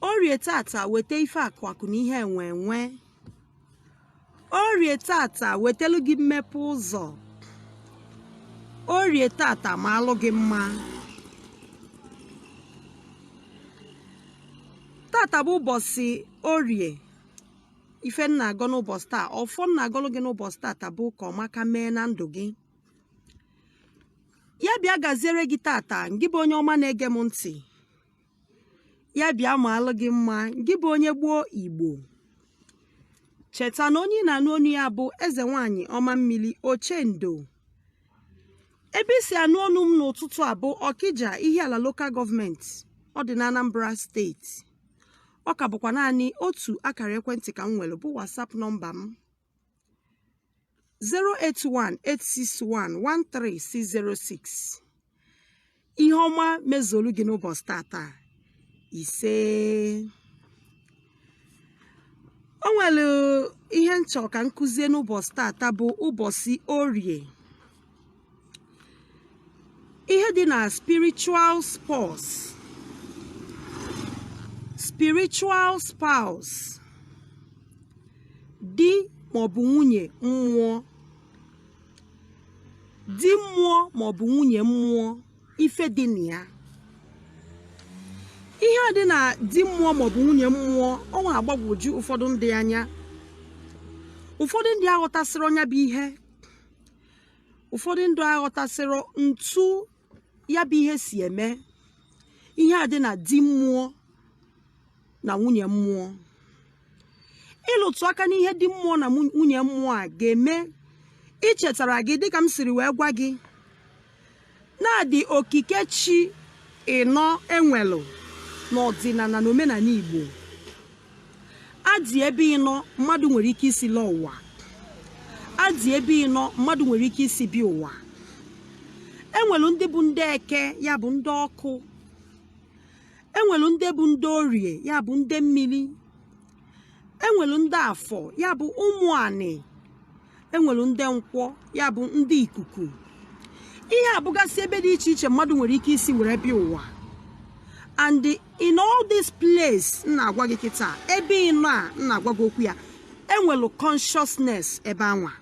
orie tata weta ife akụ akụ na ihe enwe enwe orie tata wetelu gị mmepe ụzọ orie tata maalụ gị mma tata bụ ụbọchị orie ife m na-agọ n'ụbọchị taa ọfọ m na-agọlụ gị n'ụbọchị tata bụ ka ọmaka mee na ndụ gị ya bịa gaziere gị tata ngị bụ onye ọma na-ege m ntị ya bịa maalụ gị mma gị bụ onye gboo igbo cheta na onye ị na-anụ onu ya bụ eze nwanyị ọma mmiri ochendo ebe i si anụ onu m n'ụtụtụ a bụ ọkịja ihiala lokal gọọmenti ọ dị na anambra steeti ọ ka bụkwa naanị otu akara ekwentị ka m nwere bụ whatsapp nọmba m 08186113606 ihe ọma mezuolu gị n'ụbọchị tata ise o nwere ihe m chọ ka m kuzie n'ụbọchị tata bụ ụbọchị orie ihe dị na spiritual spouse spiritual spouse di maọbụ nwunye mmụọ di mmụọ maọbụ nwunye mmụọ ife dị na ya ihe a dị na di mmụọ maọbụ nwunye mmụọ ọ na-agbagwoju ụfọdụ ndị anya ụfọdụ ndị aghọtasịrọ nya bụ ihe ụfọdụ ndị aghọtasịrọ ntu ya bụ ihe si eme ihe a dị na di mmụọ na nwunye mmụọ ịlụtụ aka n'ihe di mmụọ na nwunye mmụọ aga m echetara gị dịka m siri wee gwa gị Na a dị okike chi ịnọ e nwelụ n'ọdịnala na omenala Igbo. A dị ebe ịnọ mmadụ nwere ike isi lọ ụwa. A dị ebe ịnọ mmadụ nwere ike isi bịa ụwa. E nwelụ ndị bụ ndị eke ya bụ ndị ọkụ. E nwelụ ndị bụ ndị orie ya bụ ndị mmiri. e nwelu ndị afọ ya bụ ụmụ anị e nwelu ndị nkwọ ya bụ ndị ikuku ihe a bụgasị ebe dị iche iche mmadụ nwere ike isi were bịa ụwa and in all this place m na-agwa gị kịta ebe ịnọ a m na-agwa gị okwu ya e nwelu consciousness ebe anwa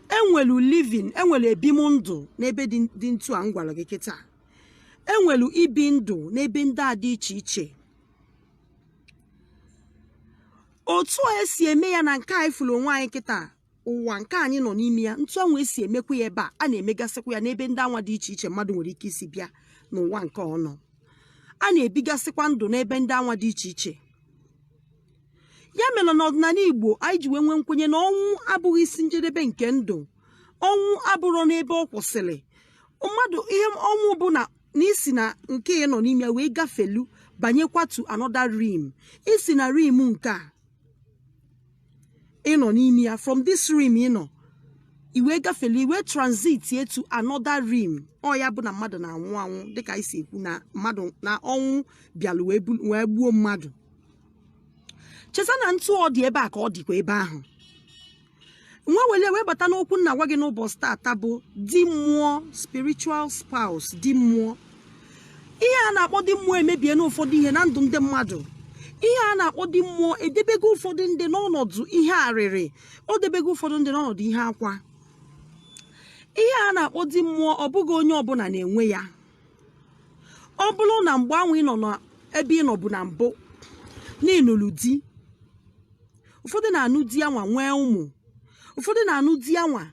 e nwelu living e nwelu ebim ndụ n'ebe dị ntu a m gwara gị kịta e nwelu ibi ndụ n'ebe ndị a dị iche iche otu a esi eme ya na nke anyị fụrụ onwe anyị kịta ụwa nke anyị nọ n'ime ya etu anwa esi emekwa ya ebe a a na-emegasịkwa ya n'ebe ndị anwa dị iche iche mmadụ nwere ike isi bịa n'ụwa nke ọ nọ a na-ebigasịkwa ndụ n'ebe ndị anwa dị iche iche ya mere n'ọdịnala igbo anyị ji wee nwee nkwenye na ọnwụ abụghị isi njedebe nke ndụ ọnwụ abụrọ n'ebe ọ kwụsịrị mmadụ ihe ọnwụ bụ na i si na nke ị nọ n'ime ya wee gafelu banyekwa to another realm i si na realm nke a ị nọ n'ime ya from this realm ị nọ i wee gafelu i wee transit ye to another realm ọ ya bụ na mmadụ na-anwụ anwụ dịka e si ekwu na mmadụ na ọnwụ bịalụ wee bu- wee gbuo mmadụ cheta na etu ọ dị ebe a ka ọ dịkwa ebe ahụ nwa wele wee bata n'okwu m na-agwa gị n'ụbọchị tata bụ di mmụọ spiritual spouse di mmụọ ihe a na-akpọ di mmụọ emebiena ụfọdụ ihe na ndụ ndị mmadụ ihe a na-akpọ di mmụọ edebego ụfọdụ ndị n'ọnọdụ ihe arịrị o debego ụfọdụ ndị n'ọnọdụ ihe akwa ihe a na-akpọ di mmụọ ọ bụghị onye ọbụla na-enwe ya ọ bụrụ na mgbe anwa ị nọ n'ebe ị nọbu na mbụ na ị nụlụ di ụfọdụ na-anụ di anwa nwee ụmụ ụfọdụ na-anụ di anwa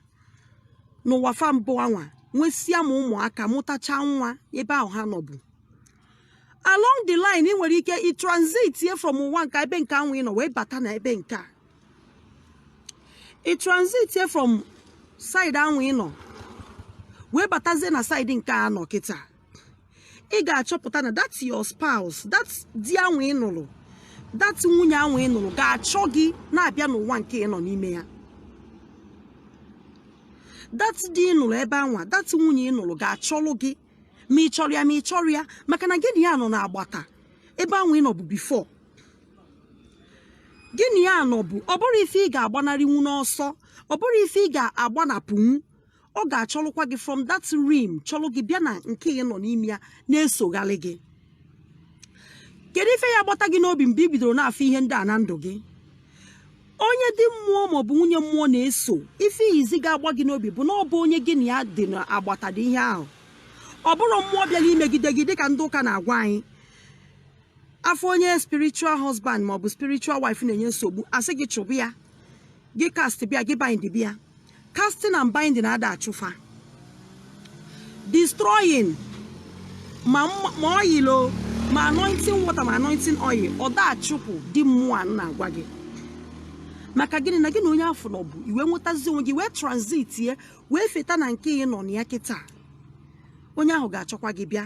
n'ụwa fa mbụ anwa nwesịa ma ụmụaka mụtacha nwa ebe ahụ ha nọbu along the line ị nwere ike ị transit ye from ụwa nke ebe nke anwa ị nọ wee bata na ebe nke a ị transit ye from side anwa ị nọ wee batazie na side nke a nọ kịta ị ga-achọpụta na that your spouse that di anwa ị nụrụ that nwunye anwa ị nụrụ ga-achọ gị na-abịa n'ụwa nke ị nọ n'ime ya that di ị nụrụ ebe anwa that nwunye ị nụrụ ga-achọlụ gị ma ị chọrọ ya ma ị chọrọ ya maka na gị na ya nọ n'agbata ebe anwa ị nọbu before gị na ya nọbu ọ bụrọ ife ị ga-agbanarịnwu n'ọsọ ọ bụrọ ife ị ga-agbanapụnwu ọ ga-achọlụkwa gị from that realm chọlụ gị bịa na nke ị nọ n'ime ya na-esogharị gị kedu ife ya-agbata gị n'obi mgbe i bidoro na-afụ ihe ndị a na ndụ gị onye di mmụọ maọbụ nwunye mmụọ na-eso ife izizi ga-agba gị n'obi bụ na ọ bụ onye gị na ya dị n'agbata dị ihe ahụ ọ bụrọ mmụọ bịara imegide gị dịka ndị ụka na-agwa anyị a fụ onye spiritual husband ma ọ bụ spiritual wife na-enye nsogbu a sị gị chụpụ ya gị cast bịa gị bind bịa casting and binding ada achụ fa destroying ma mma- ma oil o ma anointing water ma anointing oil ọ da achụpụ di mmụọ a na-agwa gị maka gịnị na gị na onye afụ nọbu i wee nwetazi onwe gị wee transit ye wee feta na nke ị nọ na ya kịta onye ahụ ga-achọkwa gị bịa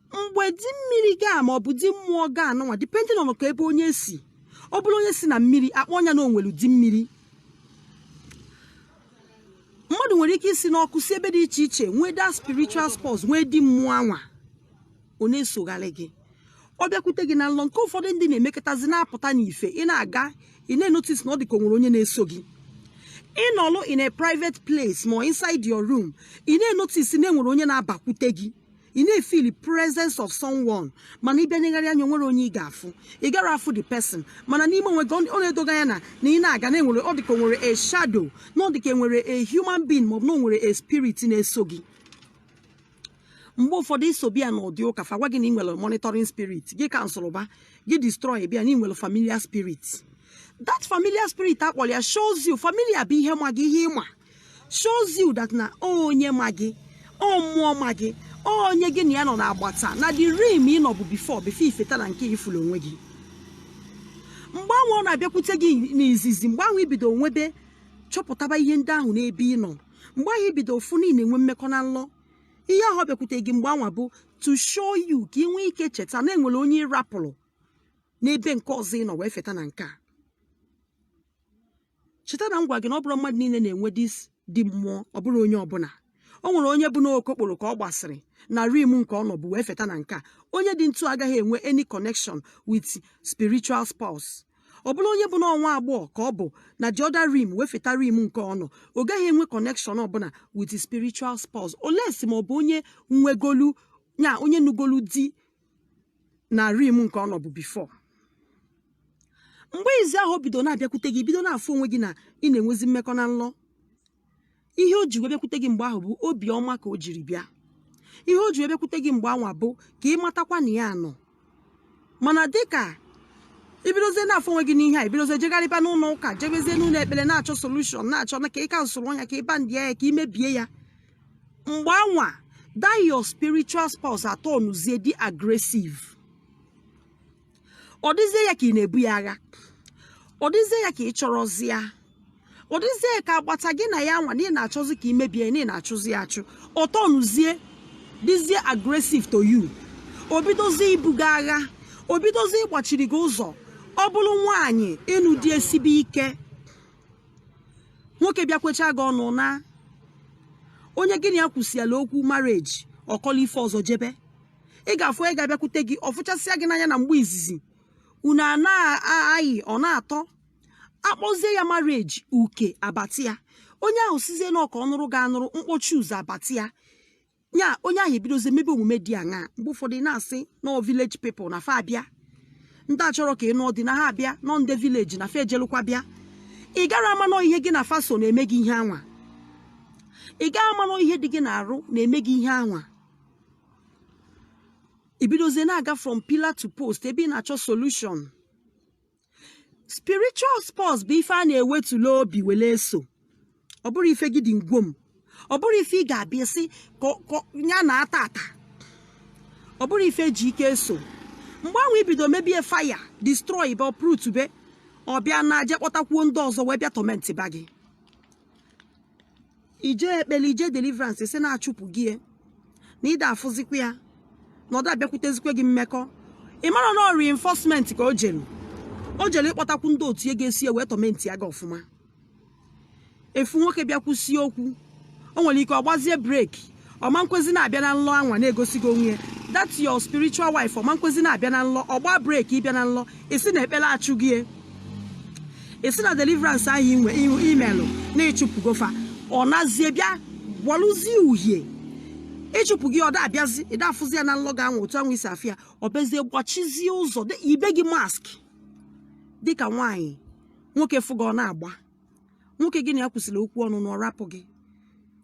mgbe di mmiri gị a ma ọ bụ di mmụọ gị anụnwa depending on ka ebe onye si ọ bụrụ onye si na mmiri akpọọ nya na o nwelu di mmiri mmadụ nwere ike isi n'ọkụ si ebe dị iche iche nwee that spiritual spouse nwee di mmụọ anwa ọ na-esogharị gị ọ bịakwute gị na nlọ nke ụfọdụ ndị na-emekọtazi na-apụta n'ife ị na-aga ị na-enotice na ọ dị ka o nwere onye na-eso gị ị nọlụ in a private place ma inside your room ị na-enotice na enwere onye na-abakwute gị ị na-efeel presence of someone mana ị bịa negharị anya o nwerọ onye ị ga-afụ ị garọ afụ the person mana n'ime onwe gị ọ na-edo gị anya na na ị na-aga na enwere ọ dịka o nwere a shadow na ọ dịka enwere a human being ma ọ bụ na o nwere a spirit na-eso gị mgbe ụfọdụ ị so bịa n'ụdị ụka fa agwa gị na ị nwere monitoring spirit gị cancelụba gị destroyba ya na ị nwere familiar spirit that familiar spirit a kpọrọ ya shows you familiar bụ ihe ma gị ihe ị ma shows you that na onye ma gị ọ mmụọ ma gị onye gị na ya nọ n'agbata na the realm ị nọbu before before i feta na nke ị fụlụ onwe gị mgbe ahụ ọ na-abịakwute gị n'izizi mgbe ahụ i bido nwebe chọpụtaba ihe ndị ahụ n'ebe ị nọ mgbe ahụ i bido fụ na ị na-enwe mmekọ na nlọ ihe ahụ ọ bịakwute gị mgbe anwa bụ to show you ka ị nwee ike cheta na enwere onye ị rapụrụ n'ebe nke ọzọ ị nọ wee feta na nke a cheta na m gwa gị na ọ bụrọ mmadụ niile na-enwe this di mmụọ ọ bụrọ onye ọbụla o nwere onye bụ n'okokporo ka ọ gba siri na realm nke ọ nọbu wee feta na nke a onye dị ntu agaghị enwe any connection with spiritual spouse ọ bụrụ onye bụ na ọ nwa agbọghọ ka ọ bụ na the other realm wee feta realm nke ọ nọ ọ gaghị enwe connection ọbụla with spiritual spouse unless ma ọ bụ onye nwegolu ya onye nụgolu di na realm nke ọ nọbu before mgbe izizi ahụ o bido na-abịakwute gị bido na-afụ onwe gị na ị na-enwezi mmekọ na nlọ ihe o ji wee bịakwute gị mgbe ahụ bụ obi ọma ka o jiri bịa ihe o ji wee bịakwute gị mgbe anwa bụ ka ị matakwa na ya nọ mana dịka i bidozie na-afụ onwe gị n'ihe a i bidozie jegharịba n'ụlọ ụka jebezie n'ụlọ ekpere na-achọ solution na-achọ na ka ị cancelụọ nya ka ị bindị ya ka i mebie ya mgbe anwa that your spiritual spouse aturnụzie dị aggressive ọ dịzie ya ka ị na-ebu ya agha ọ dịzie ya ka ị chọrọzi ya ọ dịzie ka agbata gị na ya anwa na ị na-achọzi ka i mebie na ị na-achụzi ya achụ ọ turnụzie dịzie aggressive to you o bidozie ibu gị agha o bidozie ịgbachiri gị ụzọ ọ bụrụ nwaanyị ịnụ di esibe ike nwoke bịa kwechaa gị ọnụ na onye gị na ya kwusịala okwu marriage ọ kọla ife ọzọ jebe ị ga-afụ onye ga-abịakwute gị ọ fụchasịa gị n'anya na mgbe izizi unu na-ayị ọ na-atọ akpọzie ya marriage uke abati ya onye ahụ sịzie na ọ ka ọ nụrụ ga-anụrụ mkpọchi ụzọ abati ya ya onye ahụ ebidozie mebe omume dị aṅa mgbe ụfọdụ na-asị na ọ village people na fa abịa ndị achọrọ ka ị nụọ di na ha abịa na ọ ndị village na fa ejelụkwa bịa ị gara ama na ọ ihe gị na fa so na-eme gị ihe anwa ị gaghị ama na ọ ihe dị gị n'arụ na-eme gị ihe anwa i bidozie na-aga from pillar to post ebe ị na-achọ solution spiritual spouse bụ ife a na-ewetula obi wele eso ọ bụrọ ife gidi ngwom ọ bụrọ ife ị ga-abịa sị ka ọ- ka ọ- ya na ata ata ọ bụrọ ife e ji ike eso mgbe ahụ i bido mebe fire destroy be uproot be ọ bịa na-aje kpọtakwuo ndị ọzọ wee bịa torment ba gị i jee ekpele i jee deliverance sị na achụpụgo ya na ị da-afụzikwa ya na ọ da-abịakwutezikwa gị mmekọ ị mara na ọ reinforcement ka o jere o jere ịkpọtakwu ndị otu ya ga-eso ya wee tormentịa gị ọfụma ị fụ nwoke bịa kwusie okwu o nwere ike ọ gbazie break ọ ma nkwezi na-abịa na nlọ anwa na-egosi gị onwe ya that's your spiritual wife ọ ma nkwezi na-abịa na nlọ ọ gba break ịbịa na nlọ ị sị na ekpere achụgo ya ị sị na deliverance ahụ inwe ihu i melụ na ị chụpụgo fa ọ nazie bịa gbalụzie uhie ịchụpụ gị ọ da-abịazi ị da-afụzi ya na nlọ gị anwa otu anwa i si afụ ya ọ bịazie gbachizie ụzọ di yibe gị mask dịka nwaanyị nwoke fụ gị ọ na-agba nwoke gị na ya kwusiri okwu ọnụnụ ọ rapụ gị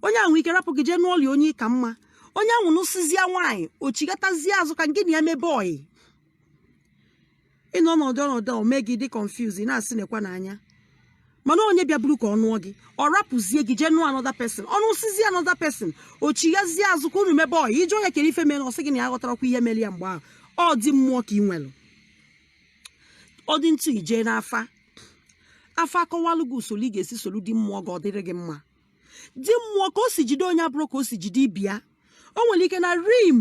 onye ahụ nwe ike rapụ gị jee nụọ onye ị ka mma onye ahụ nụsịzịa nwaanyị o chighatazie azụ ka gị na ya mebe ọyị ị nọ ọnọdụ ọnọdụ o mee gị ị dị confuse ị na-asị nekwa n'anya mana onye bịaburu ka ọ nụọ gị ọ rapụzie gị jee nụọ another person ọ nụsizie another person o chighazie azụ ka unu mebe ọyị ị jụọ nya kere ife mere ọ sị gị na ya aghọtarakwa ihe mere ya mgbe ahụ ọ di mmụọ ka ị nwere ọ dị ntụ ije n'afa afa akọwalụ gị usoro ị ga-esi soro di mmụọ gị ọ dịrị gị mma di mmụọ ka o si jide onye abụrọ ka o si jide ibe ya o nwere ike na realm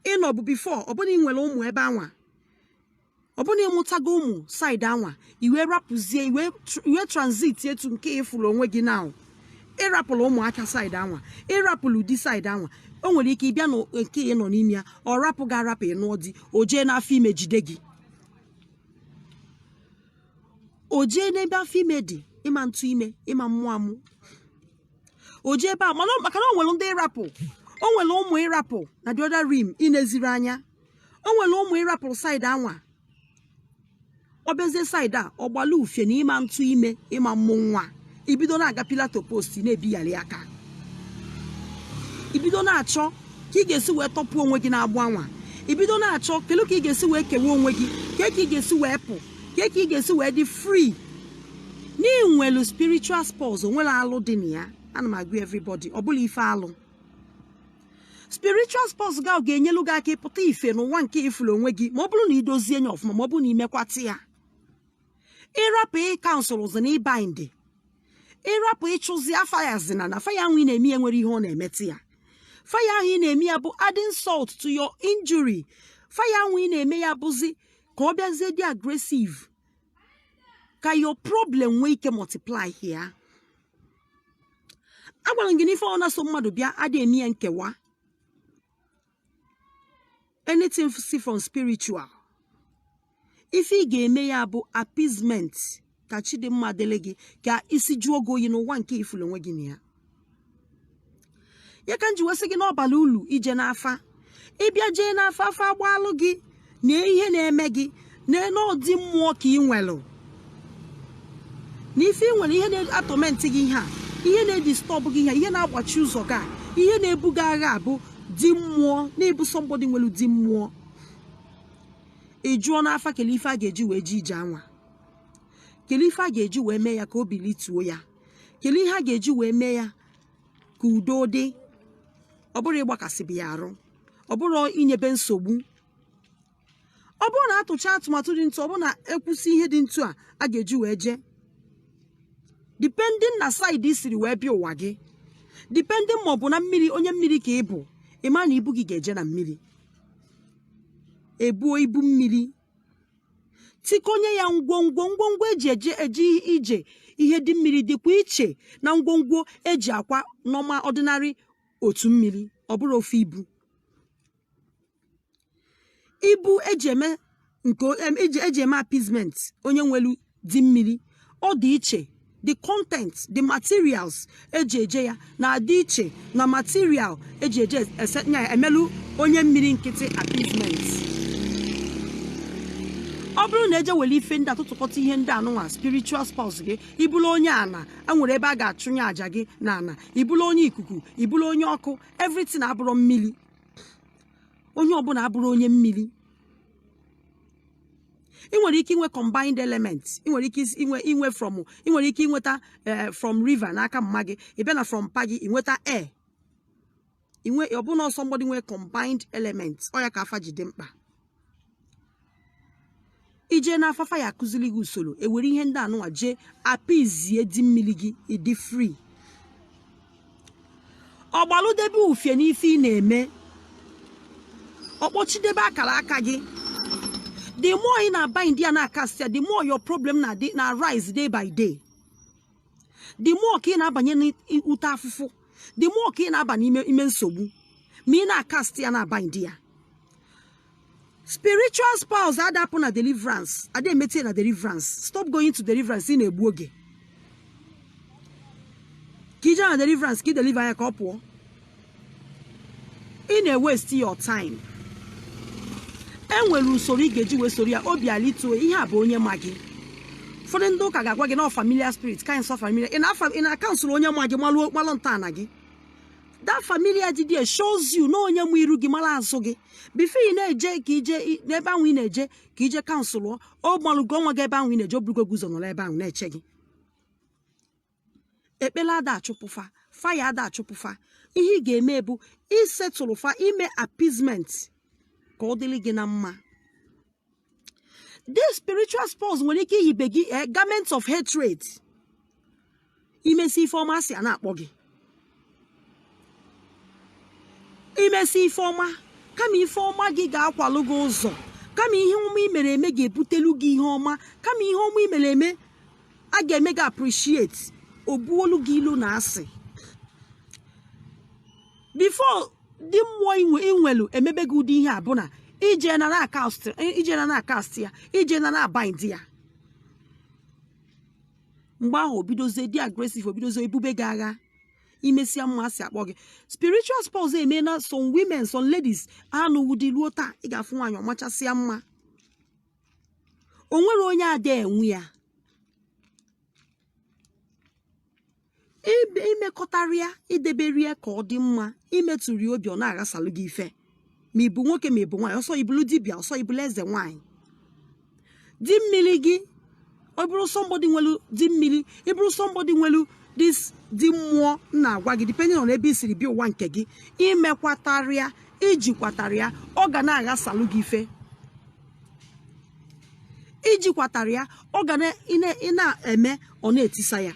ị nọbu before ọ bụ na ị nwere ụmụ ebe anwa ọ bụ na ị mụtago ụmụ side anwa i wee rapụzie i wee transitie to nke ị fụrụ onwe gị na ị rapụlụ ụmụaka side anwa ị rapụlụ di side anwa o nwere ike ị bịa na nke ị nọ n'ime ya ọ rapụ gị arapụ ị nụọ di o jee n'afọ ime jide gị o jee n'ebe afọ ime dị ị ma ntụ ime ị ma mmụ amụ o jee ebe a mana ọ- maka na o nwere di ị rapụ o nwere ụmụ ị rapụ na the other realm ị neziri anya o nwere ụmụ ị rapụlụ side anwa ọ bịazie side a ọ gbalụ ufie na ị ma ntụ ime ị ma mmụ nwa i bido na-aga pillar to post na-ebigharị aka i bido na-achọ ka ị ga-esi wee tọpụ onwe gị n'agbụ anwa i bido na-achọ kelu ka ị ga-esi wee kewa onwe gị kee ka ị ga-esi wee pụ kee ka ị ga-esi wee dị free na i nwelu spiritual spouse o nwela alụ dị na ya ana m agwa everybody ọ bụla ife alụ spiritual spouse gị ahụ ga-enyelu gị aka ịpụta ife n'ụwa nke ifuru onwe gị ma ọ bụrụ na idozie nya ọfụma ma ọ bụrụ na imekwata ya ịrapụ ịcancelzi na ịbind ịrapụ ịchụzi ya fire zina na fire ahụ ị na-eme ya nwere ihe ọ na-emetụ ya fire ahụ ị na-eme ya bụ adding salt to your injury fire ahụ ị na-eme ya bụzi ka ọ bịazie dị aggressive ka your problem nwee ike multiply ya agwara m gị n'ife ọbụna so mmadụ bịa adị eme ya nkewa anything si from spiritual ife ị ga-eme ya bụ appeasement ka chi dị mma dịrị gị ka isi jụọ gị oyi n'ụwa nke ifulu onwe gị na ya ya ka m ji wee sị gị n'ọ bala ulu ije n'afa ịbịa jee n'afa afa agbaalụ gị na ihe na-eme gị na n'ọ di mmụọ ka ị nwelụ na ife ị nwere ihe na-atọmentị gị ihe a ihe na-edistọbụ gị ihe ihe na-agbachi ụzọ gị a ihe na-ebu gị agha abụ di mmụọ na-ebu somebody nwere di mmụọ ị jụọ n'afa kele ife a ga-eji wee jee ije anwa kele ife a ga-eji wee mee ya ka obi lituo ya kele ihe a ga-eji wee mee ya ka udo dị ọ bụrọ ịgbakasịbe ya arụ ọ bụrọ inyebe nsogbu ọ bụrụ na atụcha atụmatụ dị ntu ọ bụrụ na ekwusi ihe dị ntu a a ga-eji wee jee depending na side i siri wee bịa ụwa gị depending ma ọ bụ na mmiri onye mmiri ka ị bụ ị ma na ibu gị ga-eje na mmiri ebuo ibu mmiri tikọnye ya ngwongwo ngwongwo eji eje ije ihe di mmiri dịkwa iche na ngwongwo eji akwa normal ordinary otu mmiri ọ bụrọ ofu ibu ibu eji eme nke o- em- eji eji eme appeasement onye nwelu di mmiri ọ dị iche the content the materials eji eje ya na-adị iche na material eji eje emelu onye mmiri nkịtị appeasement ọ bụrụ na eje were ife ndị atụtụkọta ihe ndị anụnwa spiritual spouse gị ịbụrụ onye ana enwere ebe a ga-achụnye aja gị na ana ịbụrụ onye ikuku ịbụrụ onye ọkụ everything abụrọ mmiri onye ọbụna abụrọ onye mmiri ị nwere ike inwe combined element ị nwere ike inwe inwe from ị nwere ike inweta eh, from river n'aka mma gị ị bịa na from mpa gị ị nweta air inwe ọbụna somebody nwee combined element ọ ya ka afa ji dị mkpa ije n'afa afa ya-akụziri gị usoro ewere ihe ndị anụnwa jee apizie di mmiri gị ịdị free ọgbalụdebe ufie n'ife ị na-eme ọkpọchidebe akara aka gị the more ị na-abind ya na-akast ya the more your problem na rise day by day the more ka ị na-abanye n'ute afụfụ the more ka ị na-aba n'ime nsogbu ma ị na-akast ya na-abind ya spiritual spouse ada apụ na deliverance ada emetie na deliverance stop going to deliverance ị na-egbu oge ka ije na deliverance ka ị deliver ya ka ọ pụọ ị na-ewesti your time e nwere usoro ị ga-eji wee soro ya obi alituo ihe a bụ onye ma gị ụfọdụ ndị ụka ga-agwa gị na familiar spirit kind of familiar ị na-afa- ị na-akansụl onye ma gị malụ malụ ntọala gị that familiar dị there shows you na onye ma iru gị mara azụ gị before ị na-eje ka ije i- n'ebe ahụ ị na-eje ka ije kansụl ọ ọ gbalụgo onwe gị ebe ahụ ị na-eje oburugo gị ụzọ nọrọ ebe ahụ na-eche gị ekpele ada achụpụ fa fire ada achụpụ fa ihe ị ga-eme bụ isetụlụ fa ime appeasement ka ọ dịrị gị na mma this spiritual spouse nwere ike iyibe gị eh, garment of hatred imesi ife ọma asị a na-akpọ gị imesi ife ọma kama ife ọma gị ga-akwalụ gị ụzọ kama ihe ọma i mere eme ga-ebutelu gị ihe ọma kama ihe ọma i mere eme a ga-eme gị appreciate obuolu gị ilu na asị before di mmụọ inwe inwelu emebe gị ụdị ihe a bụ na ije na na-akast ije na na-akast ya ije na na-abind ya mgbe ahụ obidozie dị aggressive obidozie ebube gị agha imesịa mma asị akpọ gị spiritual spouse eme na some women some ladies anụghị di ruo taa ị ga-afụ nwaanyị ọ machasịa mma o nwere onye ada enwe ya imekọtara ya idebere ya ka ọ dị mma imetụrụ ya obi ọ na-aghasalụ gị ife ma ịbụ nwoke ma ịbụ nwaanyị ọsọ ibulu dibịa ọsọ ibulu eze nwaanyị di mmiri gị ọ bụrụ somebody nwelu di mmiri ị bụrụ somebody nwelu this di mmụọ na-agwa gị depending on ebe i siri bịa ụwa nke gị imekwatara ya ijikwatara ya ọ ga na-aghasalụ gị ife ijikwatara ya ọ ga na-eme ọ na-etisa ya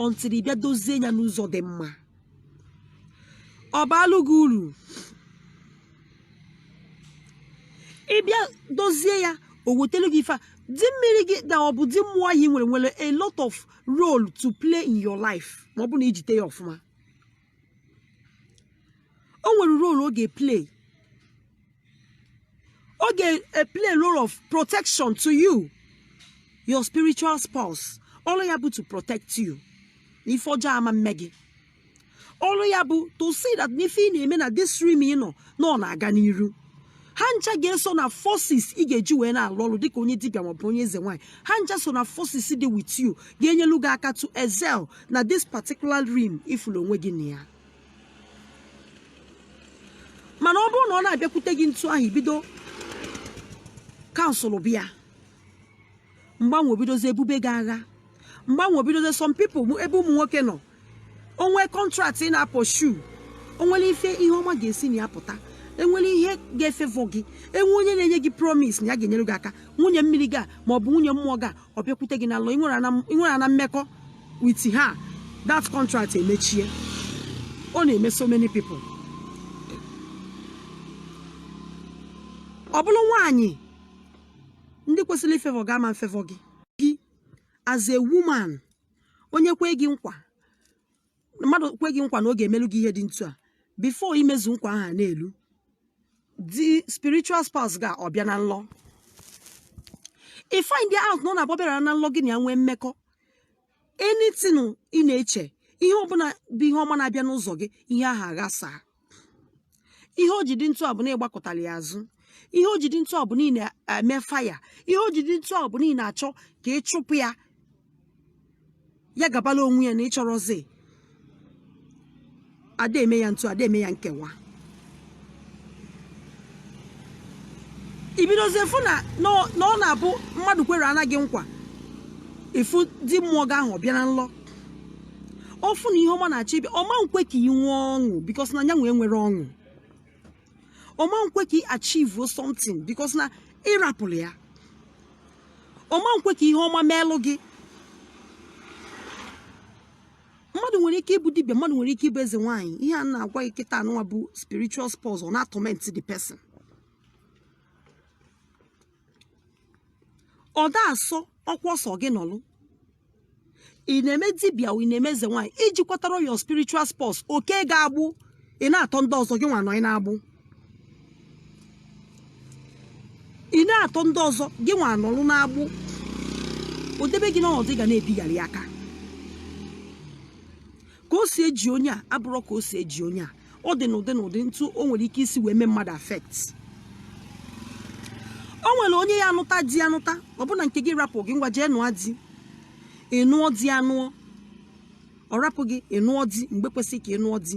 until ị bịa dozie ya n'ụzọ dị mma ọ baalụ gị uru ịbịa dozie ya o wetelu gị ife a di mmiri gị na ọ bụ di mmụọ ahụ nwere nwere a lot of role to play in your life ma ọ bụ na ijite ya ọfụma o nwere role ọ ga-eplay ọ ga-eplay role of protection to you your spiritual spouse ọrụ ya bụ to protect you na ife ọjọọ ama mme gị ọrụ ya bụ to see that n'ife ị na-eme na this realm ị nọ na ọ na-aga n'iru ha ncha ga-eso na forces ị ga-eji wee na-alụ ọrụ dịka onye dibịa maọbụ onye eze nwaanyị ha ncha so na forces dị with you ga-enyelu gị aka to excel na this particular realm ifulu onwe gị na ya mana ọ bụrụ na ọ na-abịakwute gị ntu ahụ ibido cancelụba ya mgbe anwa o bidozie bube gị agha mgbe anwa o bidozie some people ebe ụmụ nwoke nọ o nwee contract ị na-apursue onwere ife ihe ọma ga-esi na ya pụta enwere ihe ga-efavour gị enwee onye na-enye gị promise na ya ga-enyere gị aka nwunye mmiri gị a ma ọ bụ nwunye mmụọ gị a ọ bịakwute gị na nlọ ịnwere ana mmekọ with ha that contract emechie ọ na-eme so many people ọ bụrụ nwaanyị ndị kwesịrị ịfavour gị ama mfavour gị as a woman onye kwe gị nkwa mmadụ kwe gị nkwa na ọ ga-emelu gị ihe dị ntu a before imezu nkwa ahụ a na-elu the spiritual spouse gị a ọ bịa na nlọ i find out na ọ na-abụ ọ bịara na nlọ gị na ya nwee mmekọ anything ị na-eche ihe ọbụla bụ ihe ọma na-abịa n'ụzọ gị ihe ahụ aghasaa ihe o ji dị ntu a bụ na ị gbakụtara ya azụ ihe o ji dị ntu a bụ na ị na-eme faya ihe o ji dị ntu a bụ na ị na-achọ ka ị chụpụ ya ya gabala onwe ya na ịchọrọzi ada eme ya ntu ada eme ya nkewa i bidozie fụ na na ọ- na ọ na-abụ mmadụ kwere ana gị nkwa ifu di mmụọ gị ahụ ọ bịa na nlọ ọ fụ na ihe ọma na-achọ ịbịa ọ ma nkwe ka ị nwee ọṅụ because na yanwa enwerọ ọṅụ ọ ma nkwe ka ị achieve something because na ị rapụlụ ya ọ ma nkwe ka ihe ọma meelụ gị mmadụ nwere ike ịbụ dibịa mmadụ nwere ike ịbụ eze nwaanyị ihe a m na-agwa gị kịta anụnwa bụ spiritual spouse ọ na-atorment the person ọ da asọ ọkwa ọsọ gị nọlụ ị na-eme dibịa ị na-eme eze nwaanyị i jikwatara your spiritual spouse o kee gị agbụ ị na-atọ ndị ọzọ gị nwa nọ n'agbụ ị na-atọ ndị ọzọ gị nwa anọrụ n'agbụ o debe gị n'ọnọdụ ị ga na-ebigharị aka ka o si eji onye a abụrụ ka o si eji onye a ọ dị n'ụdị n'ụdị ntu o nwere ike isi wee mee mmadụ affect o nwere onye ya anụta di anụta ọbụna nke gị rapụ gị ngwa jee nụọ di ị nụọ di anụọ ọ rapụ gị ị nụọ di mgbe kwesịrị ka ị nụọ di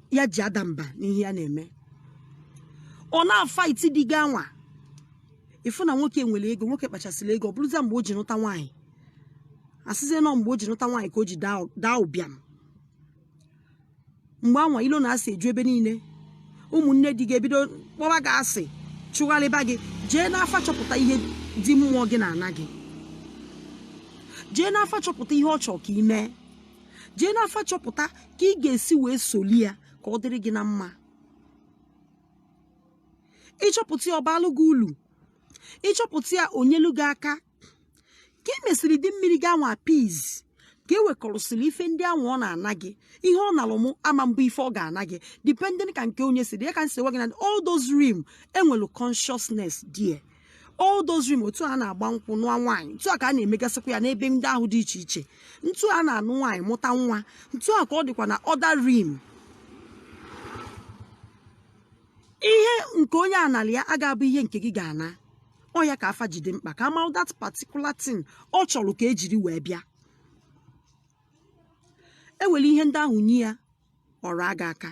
ya ji ada mba n'ihe ya na-eme ọ na-afight di gị anwa ị fụ na nwoke nwere ego nwoke kpachasịrị ego ọ bụrụzie mgbe o ji nụta nwaanyị a sịzie na ọ mgbe o ji nụta nwaanyị ka o ji daa ụbịam mgbe anwa ilo na asị eju ebe niile ụmụnne di gị ebido kpọwa gị asị chụgharịba gị jee n'afa chọpụta ihe di mmụọ gị na-ana gị jee n'afa chọpụta ihe ọ chọrọ ka ị mee jee n'afa chọpụta ka ị ga-esi wee soli ya ka ọ dịrị gị na mma ị chọpụta ya ọ baalụ gị ulu ị chọpụta ya o nyelu gị aka ka i mesịrị di mmiri gị anwa appease ka e wekọrọsịrị ife ndị anwa ọ na-ana gị ihe ọ nalụ mụ ama mbụ ife ọ ga-ana gị depending ka nke onye si dị ya ka m si gwa gị na all those realm e nwelu consciousness dị ya all those realm otu a na-agba nkwụ nụọ nwaanyị ntu a ka a na-emegasịkwa ya n'ebe ndị ahụ dị iche iche ntu a na-anụ nwaanyị mụta nwa ntu a ka ọ dịkwa na other realm ihe nke onye a nalị ya aga-abụ ihe nke gị ga-ana ọ ya ka afa ji dị mkpa ka a ma that particular thing ọ chọrọ ka e jiri wee bịa e were ihe ndị ahụ nye ya ọ raa gị aka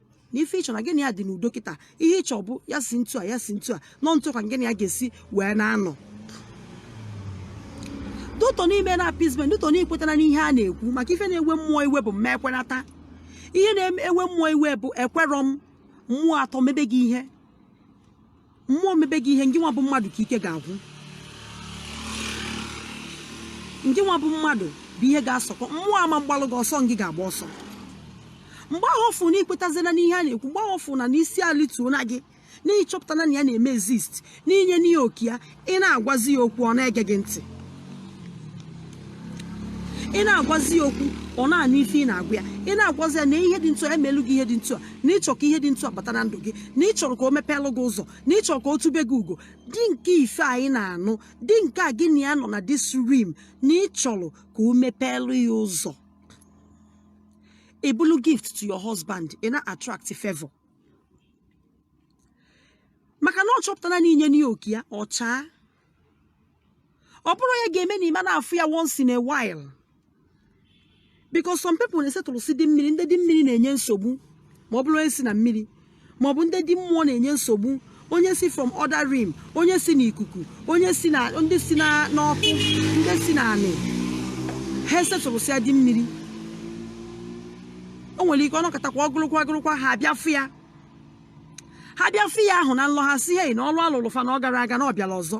na ife ị chọ na gị na ya dị n'udo kịta ihe ị chọ bụ ya si ntu a ya si ntu a na ọ ntu ka gị na ya ga-esi wee na-anọ due to na i mena appeasement due to na i kwetara n'ihe a na-ekwu maka ife na-ewe mmụọ iwe bụ mma ekwenata ihe na-ewe mmụọ iwe bụ ekwerọ m mmụọ atọ mebe gị ihe mmụọ mebe gị ihe ngị nwa bụ mmadụ ka ike ga-agwụ ngị nwa bụ mmadụ bụ ihe ga-asọkọ mmụọ ama mgbalụ gị ọsọ ngị ga-agba ọsọ mgbe ahụ ọ fụ na i kwetazila n'ihe a na-ekwu mgbe ahụ ọ fụ na isi alituona gị na ị chọpụtala na ya na-eme exist na i nyena ya oke ya ị na-agwazi ya okwu ọ na-ege gị ntị ị na-agwazi ya okwu ọ na-anụ ife ị na-agwa ya ị na-agwazi ya na ihe dị ntu a emelu gị ihe dị ntu a na ị chọ ka ihe dị ntu a bata na ndụ gị na ị chọrọ ka o mepeelụ gị ụzọ na ị chọrọ ka o tube gị ugo di nke ife anyị na-anụ di nke a gị na ya nọ na this realm na ị chọrọ ka o mepeelụ ya ụzọ ị bụlụ gift to your husband ị na-attract favor maka na ọ chọpụtara na i nyena ya oke ya ọ chaa ọ bụrọ ya ga-eme na ị ma na-afụ ya once in a while because some people na-esetụrụsị di mmiri ndị di mmiri na-enye nsogbu ma ọ bụrụ onye si na mmiri ma ọ bụ ndị di mmụọ na-enye nsogbu onye si from other realm onye si na ikuku onye si na ndị si na n'ọkụ ndị si na anị ha esetụrụsịa di mmiri o nwere ike ọ nọkatakwa ọgụrụkwa ọgụrụkwa ha abịa fụ ya ha bịa fụ ya ahụ na nlọ ha sị hei na ọlụ a lụlụ fa na ọ garọ aga na ọ bịala ọzọ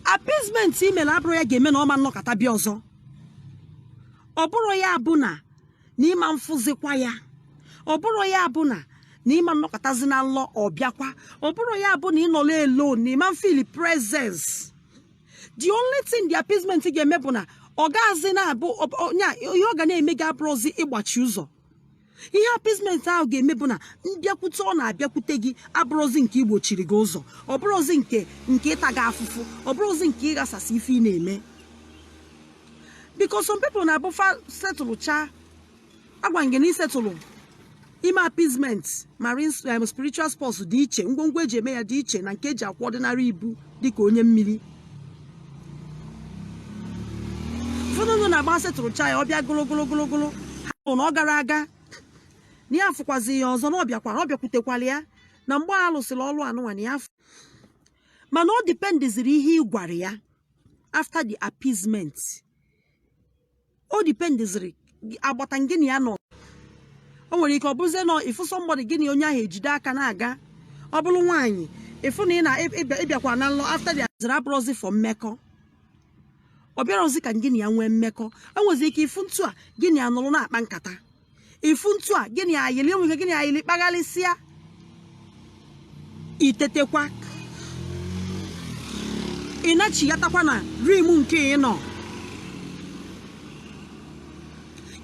appeasement i mere abụrọ ya ga-eme na ọ ma nọkata bịa ọzọ ọ bụrọ ya bụ na na ị ma afụzikwa ya ọ bụrọ ya bụ na na ị ma nọkatazi na nlọ ọ bịakwa ọ bụrọ ya bụ na ị nọlụ alone na ị ma feel presence the only thing the appeasement ga-eme bụ na ọ gaghịzi na-abụ ọ- ọ- nya- ihe ọ ga na-eme gị abụrọzi ịgbachi ụzọ ihe appeasement ahụ ga-eme bụ na mbịakwute ọ na-abịakwute gị abụrọzi nke igbochiri gị ụzọ ọ bụrọzi nke nke ịta gị afụfụ ọ bụrọzi nke ịghasasị ife ị na-eme because some people na-abụ fa setụlụcha agwa ngị na isetụlụ ime appeasement marine um, spiritual spouse dị iche ngwongwo e ji eme ya dị iche na nke e ji akwa ordinary ibu dịka onye mmiri ụfọdụ ndị na-agba setụrụcha ya ọ bịa gụlụgụlụgụlụgụlụ ha bụ na ọ garọ aga na ya afụkwazi ya ọzọ na ọ bịakwara ọ bịakwutekwala ya na mgbe a lụsịrị ọlụ anụnwa na ya afụ mana ọ dipendiziri ihe ị gwara ya after the appeasement o dipendiziri agbata gị na ya nọ o nwere ike ọ bụzie na ị fụ somebody gị na onye ahụ ejide aka na-aga ọ bụrụ nwaanyị ị fụ na ị na ịbịa- ị bịakwa na nlọ after the azịrị abụrọzi for mmekọ ọ bịarọzi ka gị na ya nwee mmekọ i nwezi ike ịfụ ntu a gị na ya nọrọ na-akpa nkata ị fụ ntu a gị na ya yili enweghị gị na ya yili kpagharịsịa i tetekwa ị nachighatakwa na realm nke ị nọ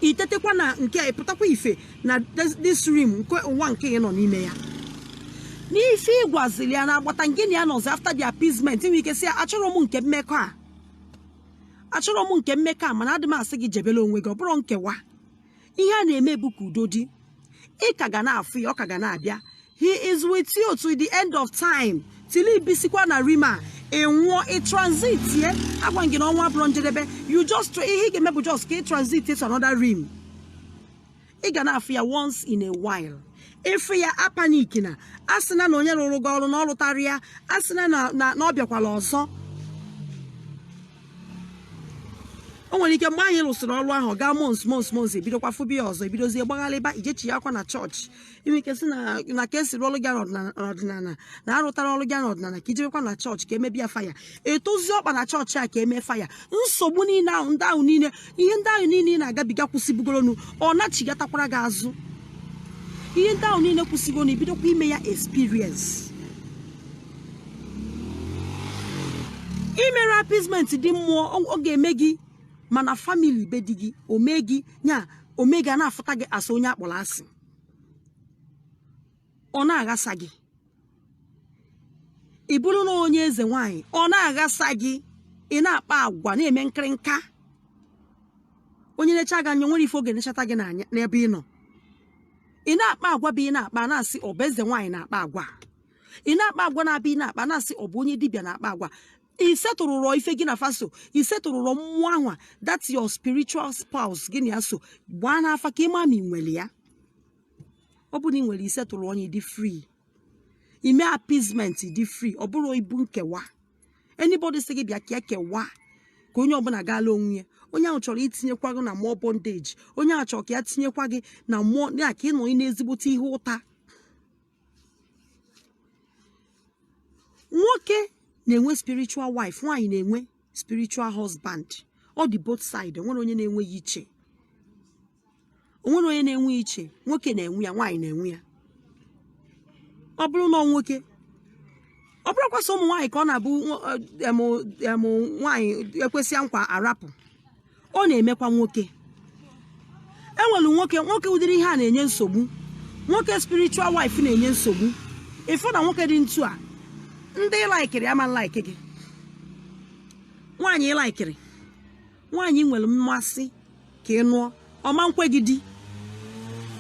i tetekwa na nke ị pụtakwa ife na this realm nke ụwa nke ị nọ n'ime ya n'ife ị gwazili ya na agbata gị na ya nọzi after the appeasement nwere ike sị ya achọrọ m nke mmekọ a achọrọ m nke mmekọ a mana adị m asị gị jebere onwe gị ọ bụrọ nkewa ihe a na-eme bụ ka udo dị ị ka ga na-afụ ya ọ ka ga na-abịa he is with you to the end of time till i bisikwa na realm a ị nwụọ ị transitie agwa gị na ọnwụ abụrọ njedebe you just tr- ihe ị ga-eme bụ just ka ị transit to another realm ị ga na-afụ ya once in a while ịfụ ya apanikina asịna na onye rụrụ gị ọrụ na ọ rụtarọ ya asịna na na na ọ bịakwala ọzọ o nwere ike mgbe anyị lụsịrị ọrụ ahụ ọ gaa months months months ebidokwa fụba ya ọzọ ebidozie gbagharịba ijechighakwa na chọọchị inwe ike sị na na ka esi rụ ọrụ gị n'ọdịnala na arụtarọ ọrụ gị n'ọdịnala ka ijebekwa na chọọchị ka emebe ya faya etozi ọkpa na chọọchị a ka emee faya nsogbu niile ahụ ndị ahụ niile ihe ndị ahụ niile ị na-agabiga kwụsịbugoronu ọ nachighatakwara gị azụ ihe ndị ahụ niile kwụsịgo na ibidokwa ime ya experience imerọ appeasement di mmụọ ọ- ọ ga-eme gị ma na famili be di gị omee gị ya omee gị a na-afụta gị as onye akpọrọ asị ọ na-aghasa gị ị bụrụ na onye eze nwaanyị ọ na-aghasa gị ị na-akpa agwa na-eme nkịrịnka onye necha gị anya nwere ife ọ ga-enechata gị n'anya n'ebe ị nọ ị na-akpa agwa bụ ị na-akpa na-asị ọ bụ eze nwaanyị na-akpa agwa ị na-akpa agwa na-abụ ị na-akpa na-asị ọ bụ onye dibịa na-akpa agwa isetụrụrọ ife gị na fa so isetụrụrọ mmụọ ahụ that your spiritual spouse gị na ya so gbaa n'afa ka ịma ma ị nwere ya ọ bụrụ na ị nwere isetụrụ onye dị free ime appeasement dị free ọ bụrọ ibu nkewa anybody sị gị bịa ka ekewa ka onye ọbụla gaala onwe ya onye ahụ chọrọ itinyekwa gị na more bondage onye ahụ chọrọ ka ya tinyekwa gị na mmụọ ya ka ịnọ n'ezigbote ihe ụta nwoke na-enwe spiritual wife nwaanyị na-enwe spiritual husband ọ dị both side onwerọ onye na-enwe ya iche onwerọ onye na-enwe iche nwoke na-enwe ya nwaanyị na-enwe ya ọ bụrụ na nwoke ọ bụrọkwa sọ ụmụ nwaanyị ka ọ na-abụ nwaanyị ekwesịa nkwa arapụ ọ na-emekwa nwoke enwere nwoke nwoke ụdịrị ihe a na-enye nsogbu nwoke spiritual wife na-enye nsogbu ịfụ na nwoke dị ntu a ndị ị laikiri ama laiki gị nwaanyị ị laikiri nwaanyị ị nwere mmasị ka ị nụọ ọ ma nkwe gị di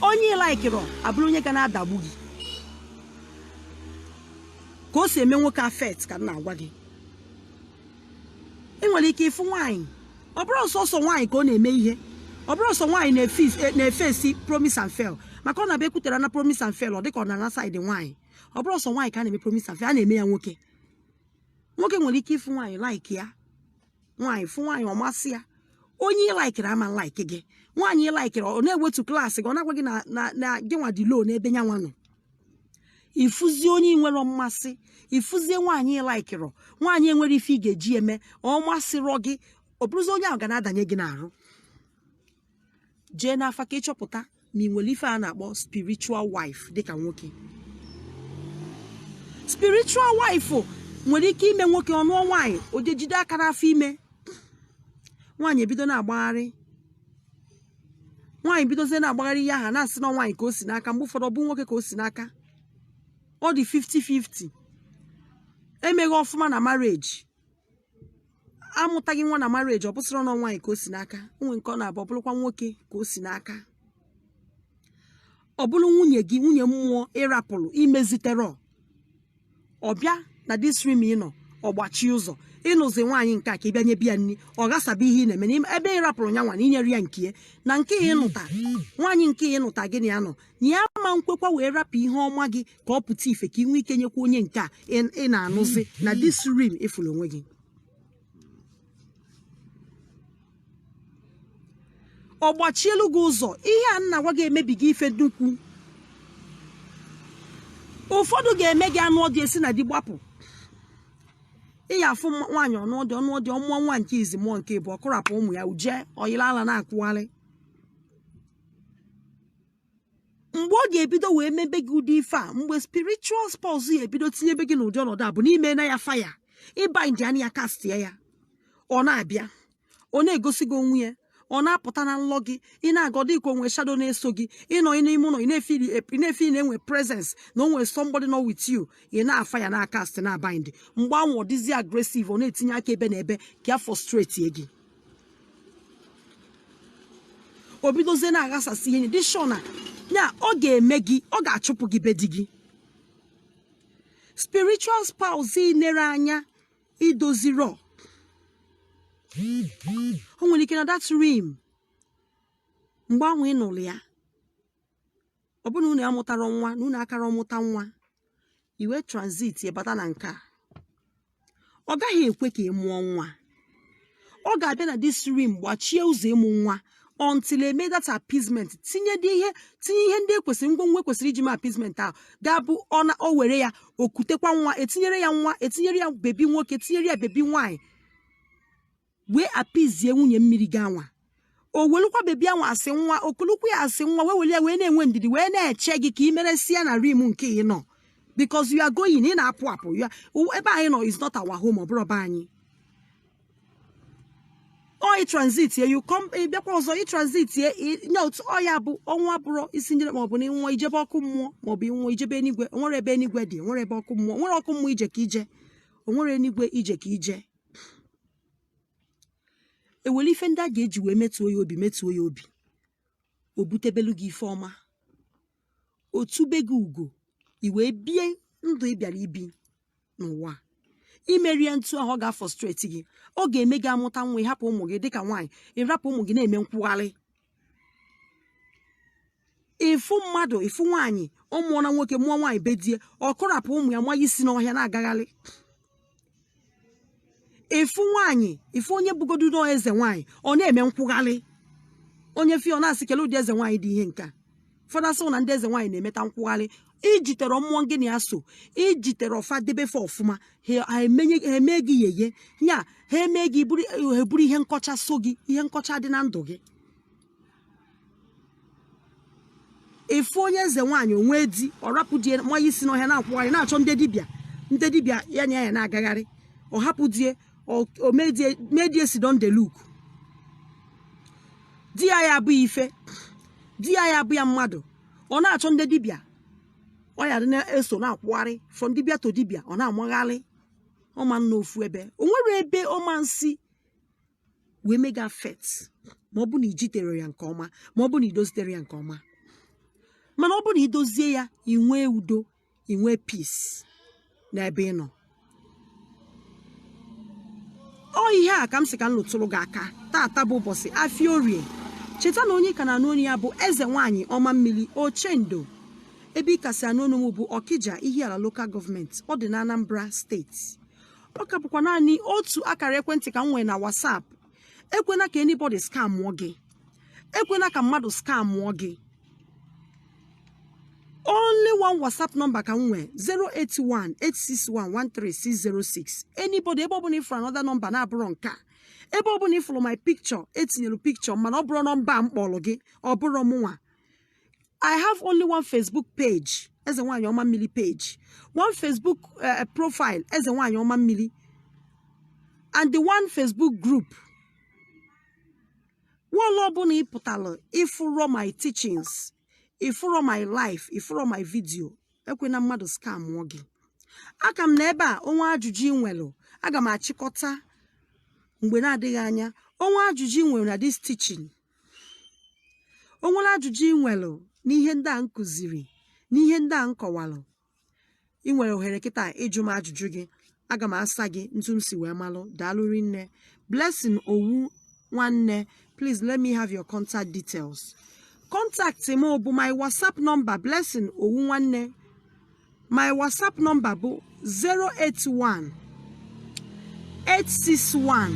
onye ị laikirọ abụrụ onye ga na-adagbu gị ka o si eme nwoke affect ka m na-agwa gị ị nwere ike ịfụ nwaanyị ọ bụrọ sọsọ nwaanyị ka ọ na-eme ihe ọ bụrọ sọ nwaanyị na-efesi promise and fail maka ọ na-abụ ekwutere na promise and fail ọ dịka ọ na-ana saịdị nwaanyị ọ bụrọ sọ nwaanyị ka a na-eme promise and fail a na-eme ya nwoke nwoke nwere ike ịfụ nwaanyị like ya nwaanyị fụ nwaanyị ọ masị ya onye ị laikiri ama like gị nwaanyị ị laikiri ọ na-ewetu klaasị gị ọ na-agwa gị na gị nwa dị low n'ebe nyanwa nọ ifuzie onye ị nwere mmasị ifuzie nwaanyị laikirọ nwaanyị enwere ife ị ga-eji eme ọ masịrọ gị ọ bụrụzi onye ahụ ga na-adanye gị n'arụ jee n'afa ka ịchọpụta ma ị nwere ife a na-akpọ spiritual wife dịka nwoke spiritual wife nwere ike ime nwoke ọ nụọ nwaanyị o jejide aka n'afọ ime nwaanyị ebido na-agbagharị nwaanyị bidozie na-agbagharị ihe a ha na-asị na nwaanyị ka o si n'aka mgbe ụfọdụ ọ bụ nwoke ka o si n'aka ọ dị 50-50 emeghị ọfụma na marriage amụtaghị nwa na marriage ọ bụsịrọ na nwaanyị ka o si n'aka o nwee nke ọ na-abụ ọ bụrụkwa nwoke ka o si n'aka ọ bụrụ nwunye gị nwunye mmụọ ị rapụrụ imeziterọ ọ bịa na this realm ị nọ ọ gbachie ụzọ ịnụzi nwaanyị nke a ka ị bịa nyebe ya nri ọ ghasaba ihe ị na-eme n'ime ebe ị rapụrụ yanwa na inyere ya nke ya na nke ya ịnụta nwaanyị nke ya ịnụta gị na ya nọ na ya ma nkwekwa wee rapụ ihe ọma gị ka ọ pụta ife ka ị nwee ike nyekwa onye nke a ị ị na-anụzi na this realm ị fụrụ onwe gị ọ gbachielu gị ụzọ ihe a m na-agwa gị emebiga ife dị ukwu ụfọdụ ga-eme gị anụọ di esi na di gbapụ ị ya afụ mma- nwaanyị ọ nụọ di ọ nụọ di ọ mụọ nwa nke izi mụọ nke ịbụọ kụrapụ ụmụ ya o je ọ yịla ala na-akwụgharị mgbe ọ ga-ebido wee mebe gị ụdị ife a mgbe spiritual spouse ya ebido tinyebe gị n'ụdị ọnọdụ a bụ n'ime na ya fire ị bindịanị ya castie ya ọ na-abịa ọ na-egosi gị onwe ya ọ na-apụta na nlọ gị ị na-aga ọdị ka o nwe shadow na-eso gị ị nọ n'ime ụlọ ị na-efe ị na-enwe presence na o nwere somebody nọ with you ị na-afire na-acast na-abind mgbe ahụ ọ dịzi aggressive ọ na-etinye aka ebe na ebe ka ya frustrate gị o bidozie na-aghasasị ihe dị sure na ya ọ ga-eme gị ọ ga-achụpụ gị be di gị spiritual spouse ị nere anya idozirọ o nwere ike na that realm mgbe ahụ ị nụrụ ya ọ bụrụ na unu amụtarọ nwa na unu akarọ amụta nwa i wee transit bata na nke a ọ gaghị ekwe ka ị mụọ nwa ọ ga-abịa na this realm gbachie ụzọ ịmụ nwa until e mee that appeasement tinye dị ihe tinye ihe ndị ekwesịrị ngwongwo ekwesịrị iji mee appeasement ahụ ga-abụ ọ na o were ya okutekwa nwa etinyere ya nwa etinyere ya bebi nwoke tinyere ya bebi nwaanyị wee apizie nwunye mmiri gị anwa o welụkwa bebi anwa asị nwa okulukwu ya asị nwa wee weli ya wee na-enwe ndidi wee na-eche gị ka ị meresịa na realm nke ị nọ because you are going ị na-apụ apụ ya ebe anyị nọ is not our home ọ bụrọ be anyị oyi transit ye you come ị bịakwa ọzọ ị transit ye ị- nye otu ọya bụ ọnwụ abụrọ isi njere maọbụ na ịnwụọ ijebe ọkụ mmụọ maọbụ ịnwụọ ijebe enigwe onwerọ ebe enigwe dị onwerọ ebe ọkụ mmụọ onwerọ ọkụ mmụọ ije ka ije onwerọ enigwe ije ka ije ewere ife ndị a ga-eji wee metuo ya obi metuo ya obi o butebelu gị ife ọma o tube gị ugo i wee bie ndụ ị bịara ibi n'ụwa a. imerọ ya ntu ahụ ọ ga-afrustrate gị ọ ga-eme gị amụta nwa ịhapụ ụmụ gị dịka nwaanyị ịrapụ ụmụ gị na-eme nkwụgharị ịfụ mmadụ ịfụ nwaanyị ọ mụọ na nwoke mụọ nwaanyị be die ọ kụrapụ ụmụ ya manye isi n'ọhịa na-agagharị ịfụ nwaanyị ịfụ onye bụgodu nọọ eze nwaanyị ọ na-eme nkwụgharị onye fụ ya ọ na-asị kele ụdị eze nwaanyị dị ihe nke a ụfọdụ asị na ndị eze nwaanyị na-emeta nkwụgharị ijiterọ mmụọ gị na ya so ijiterọ fa debe fa ọfụma ha ha emenye ha eme gị yeye ya ha eme gị bụrụ ha eburu ihe nkọcha so gị ihe nkọcha dị na ndụ gị ịfụ onye eze nwaanyị o nwee di ọ rapụ die manye isi n'ọhịa na-akwụgharị na-achọ ndị dibịa ndị dibịa ya na ya na-agagharị ọ hapụ die ọ- o medie medie sidon dey look di ya ya abụghị ife di ya ya abụ ya mmadụ ọ na-achọ ndị dibịa ọ ya dị na-eso na-akwụgharị from dibịa to dibịa ọ na-amagharị ọ ma anọ ofu ebe o nwerọ ebe ọ ma nsi wee make effort ma ọ bụ na ijiterọ ya nke ọma ma ọ bụ na idoziterọ ya nke ọma mana ọ bụ na idozie ya inwee udo ị nwee peace n'ebe ị nọ ọ ihe a ka m sị ka m lụtụrụ gị aka tata bụ ụbọchị afia orie cheta na onye ị ka na-anụ ọnụ ya bụ eze nwaanyị ọma mmiri ochendo ebe ị ka si anụ ọnụ m bụ ọkija ihiala local government ọ dị na anambra steeti ọ ka bụkwa naanị otu akara ekwentị ka m nwere na whatsapp ekwena ka anybody scamụọ gị ekwena ka mmadụ scamụọ gị only one whatsapp number ka m nwee 08186113606 anybody ebe ọbụla ịfụrụ another number na-abụrọ nke a ebe ọbụla ịfụrụ my picture etinyere picture mana ọ bụrọ number a m kpọrọ gị ọ bụrọ mụnwa i have only one facebook page eze nwaanyị ọma mmiri page one facebook eh, profile eze nwaanyị ọma mmiri and the one facebook group wall ọbụla ị pụtara ị fụrọ my teachings ị fụrọ my life ị fụrọ my video ekwena mmadụ scamuo gị a ka m nọ ebe a o nwee ajụjụ ị nwere aga m achịkọta mgbe na-adịghị anya o nwee ajụjụ ị nwere na this teaching o nwere ajụjụ ị nwere n'ihe ndị a m kụziri n'ihe ndị a m kọwara ị nwere ohere kịta ịjụ m ajụjụ gị aga m asa gị ntu m si wee malụ daalụ rinne blessing owu nwanne please let me have your contact details contact m bụ my whatsapp number blessing owu nwanne my whatsapp number bụ 081 861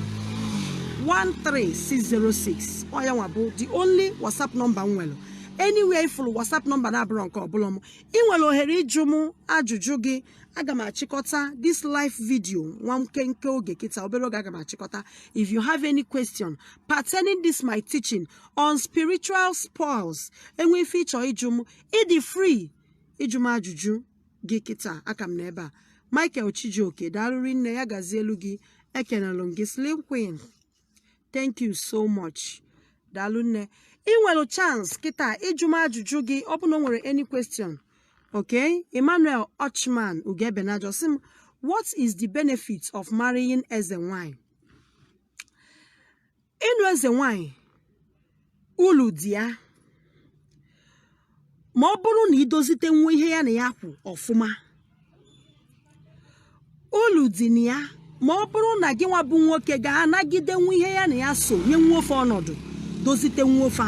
13606 ọ ya nwa bụ the only whatsapp number m nwere anywhere ị fụlụ whatsapp number na-abụrọ nke a ọ bụrọ m ị nwere ohere ịjụ m ajụjụ gị aga m achịkọta this live video nwa nkenke oge kịta obere oge aga m achịkọta if you have any question pertaining this my teaching on spiritual spouse e nwee ife ị chọ ịjụ m ị dị free ịjụ m ajụjụ gị kịta a ka m nọ ebe a Michael Chijioke daalụ rinne ya gazielụ gị ekenelụ m gị slim queen thank you so much daalụ nne ị nwere chance kịta ịjụ m ajụjụ gị ọ bụ na o nwere any question okay emmanuel ochman ugebenajo sị m what is the benefit of marrying eze nwanyị ịnụ eze nwanyị ulu dị ya ma ọ bụrụ na i dozitenwu ihe ya na ya kwụ ọfụma ulu dị na ya ma ọ bụrụ na gị nwa bụ nwoke ga-anagidenwu ihe ya na ya so nyenwuo fa ọnọdụ dozitenwuo fa.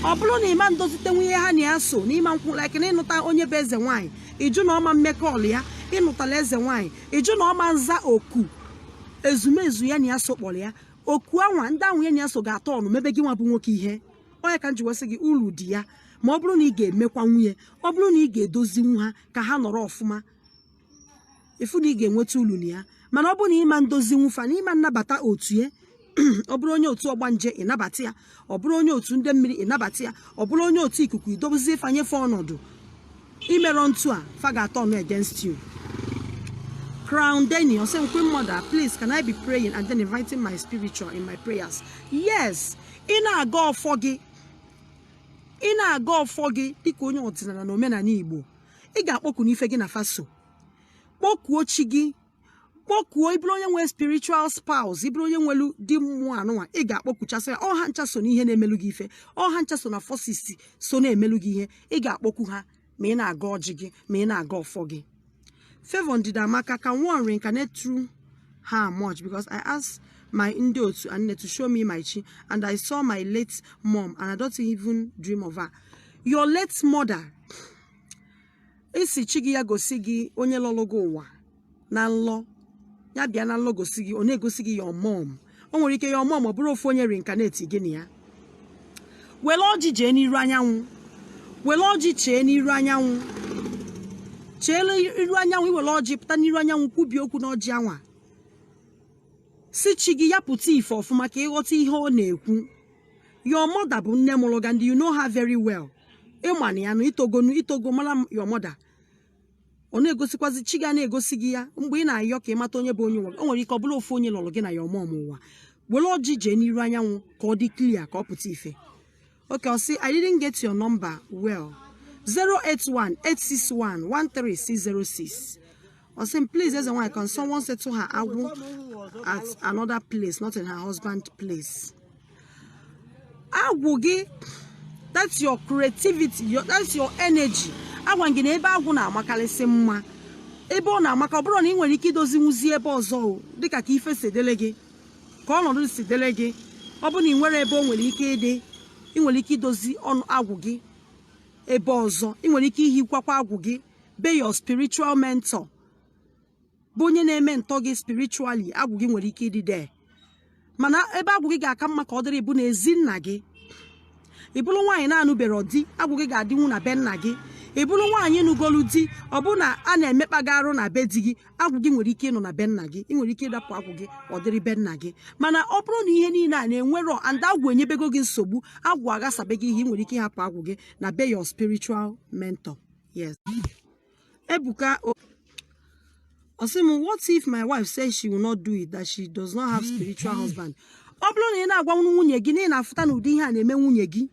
ọ bụrụ na ị ma ndozitenwu ihe ha na ya so na ị ma nkwụ like na ị nụta onye bụ eze nwaanyị ị jụ na ọ ma mmekọ ọlụ ya ị nụtala eze nwaanyị ị jụ na ọ ma nza oku ezumezu ya na ya so kpọrọ ya oku anwa ndị ahụ ya na ya so ga-atọ ọnụ mebe gị nwa bụ nwoke ihe ọ nya ka m ji wee sị gị ulu dị ya ma ọ bụrụ na ị ga-emekwanwu ya ọ bụrụ na ị ga-edozinwu ha ka ha nọrọ ọfụma ị fụ na ị ga-enweta ulu na ya mana ọ bụrụ na ị ma ndozinwu fa na ị ma nnabata otu ya ọ bụrụ onye otu ọgbanje ị nabata ya ọ bụrụ onye otu ndị mmiri ị nabata ya ọ bụrụ onye otu ikuku i dobezie fa nye fa ọnọdụ i merọ ntu a fa ga-atọ ọnụ against you crown denny ọ sị queen mother please can i be praying and then inviting my spiritual in my prayers yes ị na-agọ ọfọ gị ị na-agọ ọfọ gị dịka onye ọdịnala na omenala igbo ị ga-akpọkunụ ife gị na fa so kpọkuo chi gị kpọkuo ị bụrụ onye nwere spiritual spouse ị bụrụ onye nwelu di mmụọ anụnwa ị ga-akpọkuchasị ya ọ ha ncha so n'ihe na-emelu gị ife ọ ha ncha so na forces so na-emelu gị ihe ị ga-akpọku ha ma ị na-agọ ọjị gị ma ị na-agọ ọfọ gị Favour Ndidiamaka can one reincarnate through her mom because I asked my ndị otu and to show me my chi and I saw my late mom and I don't even dream of her your late mother ị sị chi gị ya gosi gị onye lọrụ gị ụwa na nlọ ya bịa na nlọ gosi gị ọ na-egosi gị your mom o nwere ike your mom ọ bụrụ ofu onye reincarnate gị na ya were ọjị jee n'iru anyanwụ were ọjị chee n'iru anyanwụ cheele iru anyanwụ i were ọjị pụta n'iru anyanwụ kwubie okwu n'ọjị anwa sị chi gị ya pụta ife ọfụma ka ị ghọta ihe ọ na-ekwu your mother bụ nne mụrụ gị and you know her very well ị ma na ya na i togonu i togo mara your mother ọ na-egosikwazi chi gị na-egosi gị ya mgbe ị na-ayọ ka ị mata onye bụ onye ụwa o nwere ike ọ bụrụ ofu onye lọrụ gị na your mom ụwa were ọjị jee n'iru anyanwụ ka ọ dị clear ka ọ pụta ife okay ọ sị I didn't get your number well 081 861 13606 ọ sị m please eze nwaanyị can someone settle her agwụ at another place not in her husband place agwụ gị that's your creativity your, that's your energy agwa gị na ebe agwụ na-amakalịsị mma ebe ọ na-amaka ọ bụrụ na ị nwere ike idozinwuzi ebe ọzọ dịka ka ife si dele gị ka ọnọdụ si dele gị ọ bụrụ na ị nwere ebe o nwere ike ịdị ị nwere ike idozi ọnụ agwụ gị ebe ọzọ ị nwere ike ihikwakwa agwụ gị be your spiritual mentor bụ onye na-ementor gị spiritually agwụ gị nwere ike ịdị there mana ebe agwụ gị ga-aka mma ka ọ dịrị bụ na ezi nna gị ị bụrụ nwaanyị na-anụberọ di agwụ gị ga-adịnwu na be nna gị ị bụrụ nwaanyị nụgolu di ọ bụ na a na-emekpa gị arụ na be di gị agwụ gị nwere ike ịnọ na be nna gị ị nwere ike ịrapụ agwụ gị ọ dịrị be nna gị mana ọ bụrụ na ihe niile a na-enwerọ and agwụ enyebego gị nsogbu agwụ aghasabe gị ihe ị nwere ike ịhapụ agwụ gị na be your spiritual mentor Yes. Ebuka, oh, Osimu, what if my wife says she will not do it, that she does not have spiritual husband? Ọ bụrụ na ị na-agwa nwunye gị na ị na-afụta na ụdị ihe a na-eme nwunye gị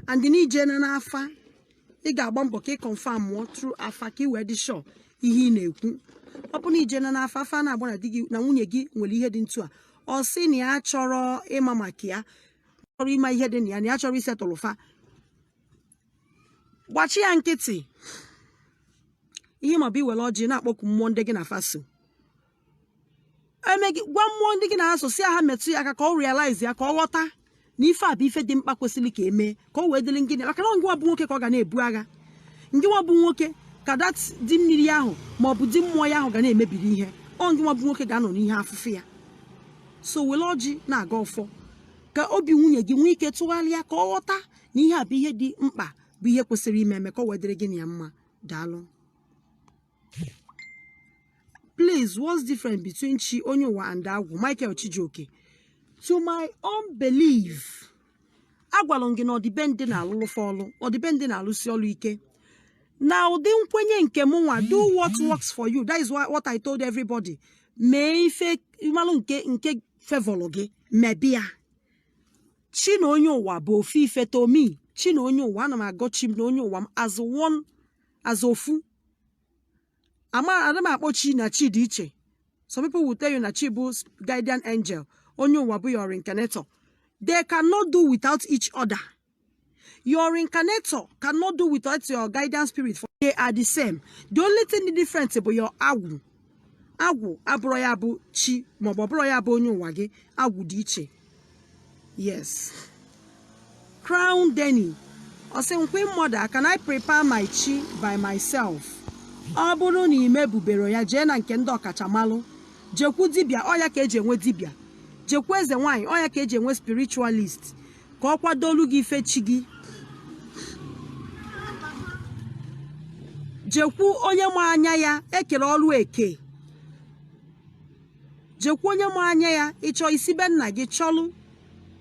and na i jee na afa ị ga-agba mbọ ka ị confirmụọ through afa ka ị wee dị sure ihe ị na-ekwu ọ bụ na i jee na afa afa na-agba na di gị na nwunye gị nwere ihe dị etu a ọ sị na ya achọrọ ịma maka ya achọrọ ịma ihe dị na ya na ya achọrọ ịsettle fa gbachi ya nkịtị ihe ma bụ i were ọjị na-akpọku mmụọ ndị gị na fa so eme gị gwa mmụọ ndị gị na ha so sị ha metụ ya aka ka ọ realize ya ka ọ ghọta na ife a bụ ife dị mkpa kwesịrị ka emee ka ọ wee dịrị ngịnị maka na ngịwa bụ nwoke ka ọ ga na-ebu agha ngịwa bụ nwoke ka that di mmiri ahụ ma ọ bụ di mmụọ ya ahụ ga na-emebiri ihe ọ ngịwa bụ nwoke ga-anọ n'ihe afụfụ ya so were ọjị na-agọ ọfọ ka obi nwunye gị nwee ike tụgharịa ka ọ ghọta na ihe a bụ ihe dị mkpa bụ ihe kwesịrị ime eme ka o wee dịrị gị na ya mma daalụ please what's different between chi onye ụwa and agwụ michael chijioke to my own belief agwara m gị na ọdịbendị na-alụlụ fa ọlụ ọdịbendị na-alụsi ọlụ ike na ụdị nkwenye nke m nwa do what works for you that is why- what i told everybody mee ife ị malụ nke nke favourlụ gị mebe ya chi na onye ụwa bụ ofu ife to me chi na onye ụwa ana m agọ chi m na onye ụwa m as one as ofu ada m akpọ chi na chi dị iche some people will tell you na chi bụ guardian angel onye ụwa bụ your reincarnator they cannot do without each other your reincarnator cannot do without your guidance spirit for they are the same the only thing dị different bụ your agwụ agwụ abụrọ ya bụ chi maọbụ ọ bụrọ ya bụ onye ụwa gị agwụ dị iche yes crown denny ọ sị m queen mother can i prepare my chi by myself ọ bụrụ na i mebuberọ ya jee na nke ndị ọkachamalụ jekwu dibịa ọ ya ka eji enwe dibịa jekwu eze nwaanyị ọ ya ka eji enwe spiritualist ka ọ kwadolu gị ife chi gị jekwu onye ma anya ya e kere ọrụ eke jekwu onye ma anya ya ịchọ isi be nna gị chọlụ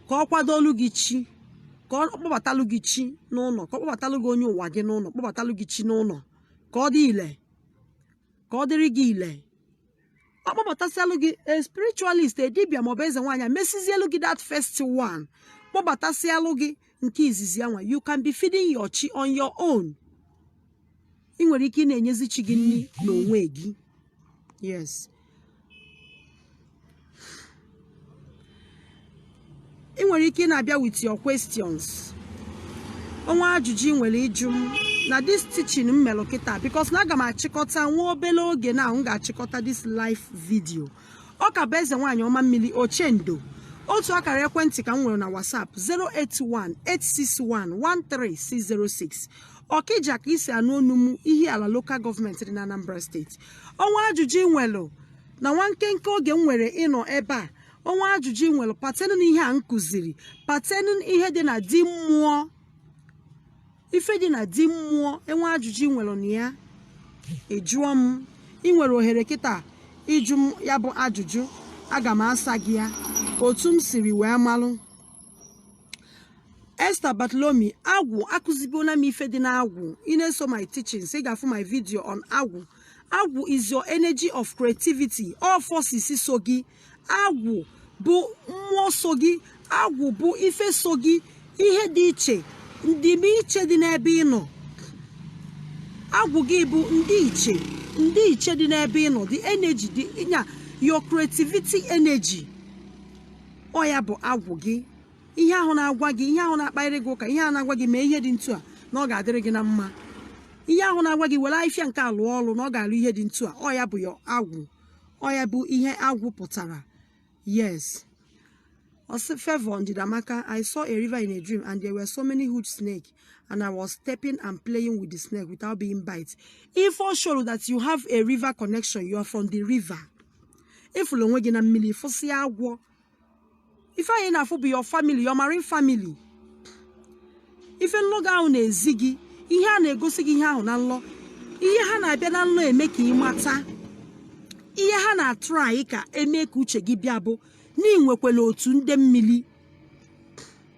ka ọ kwadolu gị chi ka ọ kpọbatalụ gị chi n'ụlọ ka ọ kpọbatalụ gị onye ụwa gị n'ụlọ kpọbatalụ gị chi n'ụlọ ka ọ dị ile ka ọ dịrị gị ile ọ kpọbatasịalụ gị a spiritualist a dibia maọbụ eze nwaanyị mesizielu gị that first one kpọbatasịalụ gị nke izizi anwa you can be feeding your chi on your own ị nwere ike ị na-enyezi chi gị nri n'onwe gị yes ị nwere ike ị na-abịa with your questions o nwee ajụjụ ị nwere ịjụ m na this teaching m melụ kịta because na aga m achịkọta nwa obele oge na m ga-achịkọta this live video ọ ka bụ eze nwaanyị ọma mmiri ochendo otu akara ekwentị ka m nwere na whatsapp 08186113606 ọkija ka i si anụ onu m ihiala lokal gọọmenti dị na anambra steeti o nwee ajụjụ ị nwelụ na nwa nkenke oge m nwere ịnọ ebe a o nwee ajụjụ ị nwere pertaining na ihe a m kụziri pertaining ihe dị na di mmụọ ife dị na di mmụọ e nwee ajụjụ ị nwere na ya ị jụọ m ị nwere ohere kịta ịjụ m ya bụ ajụjụ aga m asa gị ya otu m siri wee malụ Esther Bartholomew agwụ akụzibuola m ife dị n'agwụ ị na-eso my teachings ị ga-afụ my video on agwụ agwụ is your energy of creativity ọ forces so gị agwụ bụ mmụọ so gị agwụ bụ ife so gị ihe dị iche ndịmiche dị n'ebe ị nọ agwụ gị bụ ndị iche ndị iche dị n'ebe ị nọ the energy dị ịnya your creativity energy ọ ya bụ agwụ gị ihe ahụ na-agwa gị ihe ahụ na-akparịrị gị ụka ihe ahụ na-agwa gị mee ihe dị ntu a na ọ ga-adịrị gị na mma ihe ahụ na-agwa gị were afịfịa nke a lụọ ọrụ na ọ ga-alụ ihe dị ntu a ọ ya bụ ya agwụ ọ ya bụ ihe agwụ pụtara yes ọ sị Favour Ndidiamaka I saw a river in a dream and there were so many huge snake and I was stepping and playing with the snake without being bite ife ọ show that you have a river connection you are from the river ị fụla onwe gị na mmiri fụsịa agwọ ife anwa ị na-afụ bụ your family your marine family ife nlọ gị ahụ na-ezi gị ihe a na-egosi gị ihe ahụ na nlọ ihe ha na-abịa na nlọ eme ka ị mata ihe ha na-atry ka eme ka uche gị bịa bụ na ị nwekwala otu ndị mmiri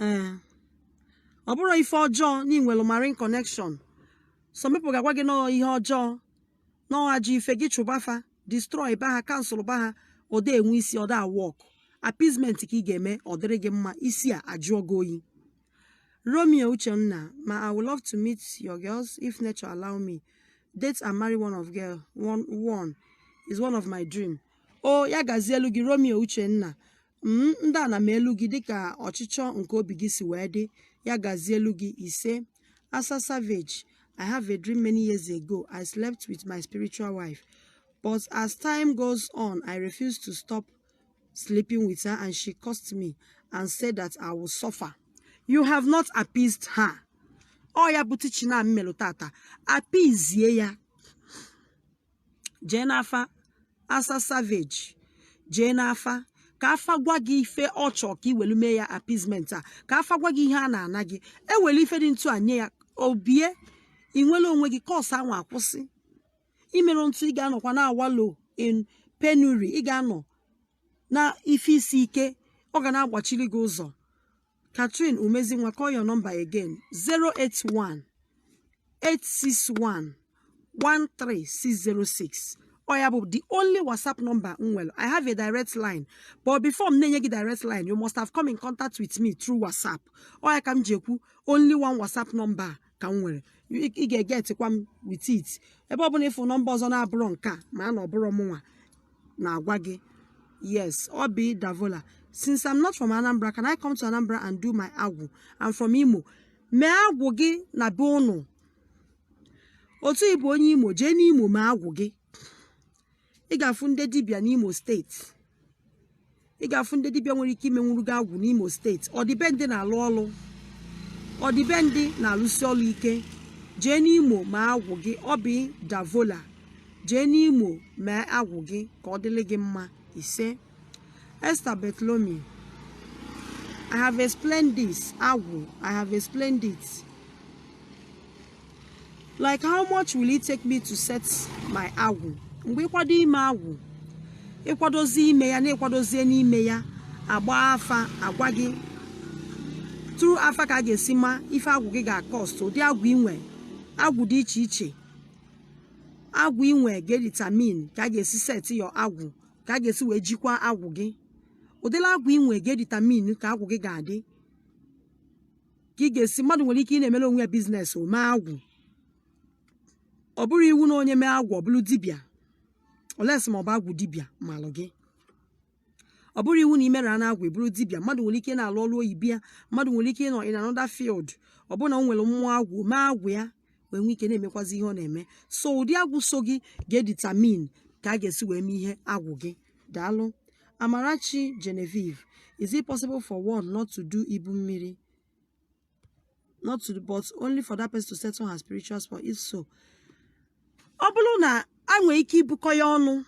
ee ọ bụrọ ife ọjọọ na i nwelu marine connection some people ga-agwa gị na ọ ihe ọjọọ na ọ ajọ ife gị chụba fa destroy ba ha cancel ba ha ọ da enwe isi ọ da work appeasement ka ị ga-eme ọ dịrị gị mma isi a ajụọ gị oyi romeo uchenna ma i would love to meet your girls if nature allow me date and marry one of girl one, one is one of my dream o ya gazielu gị romeo uchenna m ndị ana melu gị dịka ọchịchọ nke obi gị si wee dị ya gazielu gị ise asa savage i have a dream many years ago i slept with my spiritual wife but as time goes on i refuse to stop sleeping with her and she cursed me and said that i will suffer you have not appeased her ọ ya bụ teaching m melụ tata appeasie ya jee n'afa asa savage jee n'afa ka afa gwa gị ife ọ chọọ ka i welu mee ya appeasement a ka afa gwa gị ihe a na-ana gị e were ife dị ntu a nye ya o bie ị nwere onwe gị curse anwa akwụsị i merọ ntu ị ga-anọkwa na awalo in penury ị ga-anọ na ife isi ike ọ ga na-agbachiri gị ụzọ Catherine Umezinwa call your number again 081 861 13606 ọ ya bụ the only whatsapp number m nwere i have a direct line but before m na-enye gị direct line you must have come in contact with me through whatsapp ọ ya ka m ji ekwu only one whatsapp number ka m nwere ị ga-egetikwa m with it ebe ọ bụla ịfụ nọmba ọzọ na-abụrọ nke a maa na ọ bụrọ mụnwa na-agwa gị yes Obi Davola since i'm not from anambra can i come to anambra and do my agwụ i'm from imo mee agwụ gị na be ụnụ otu ịbụ onye imo jee n'imo mee agwụ gị ị ga-afụ ndị dibịa n'imo steeti ị ga-afụ ndị dibịa nwere ike imenwuru gị agwụ n'imo steeti ọdịbendị na-alụ ọlụ ọdịbendị na-alụsi ọlụ ike jee n'imo mee agwụ gị Obi Davola jee n'imo mee agwụ gị ka ọ dịrị gị mma ise esther Bartholomew i have explained this agwụ i have explained it like how much will it take me to set my agwụ mgbe ịkwado ime agwụ ịkwadozi ime ya na ịkwadozie n'ime ya agbaa afa agwa gị through afa ka a ga-esi ma ife agwụ gị ga-akọst ụdị agwụ inwe agwụ dị iche iche agwụ inwe ga-editamin ka a ga-esi set your agwụ ka a ga-esi wee jikwa agwụ gị ụdịlị agwụ inwe ga-editamin ka agwụ gị ga-adị ka ị ga-esi mmadụ nwere ike ị na-emere onwe ya biznes o mee agwụ ọ bụrọ iwu na onye mee agwụ ọ bụrụ dibịa unless ma ọ bụ agwụ dibịa malụ gị ọ bụrọ iwu na imerana agwụ ịbụrụ dibịa mmadụ nwere ike na-alụ ọrụ oyibo ya mmadụ nwere ike ịnọ in another field ọ bụrụ na o nwere mmụọ agwụ mee agwụ ya wee nwee ike na-emekwazi ihe ọ na-eme so ụdị agwụ so gị ga-editamin ka a ga-esi wee mee ihe agwụ gị daalụ amarachi genevieve is it possible for one not to do ibu mmiri not to but only for that person to settle her spiritual spouse if so ọ bụrụ na a nwere ike ibukọ ya ọnụ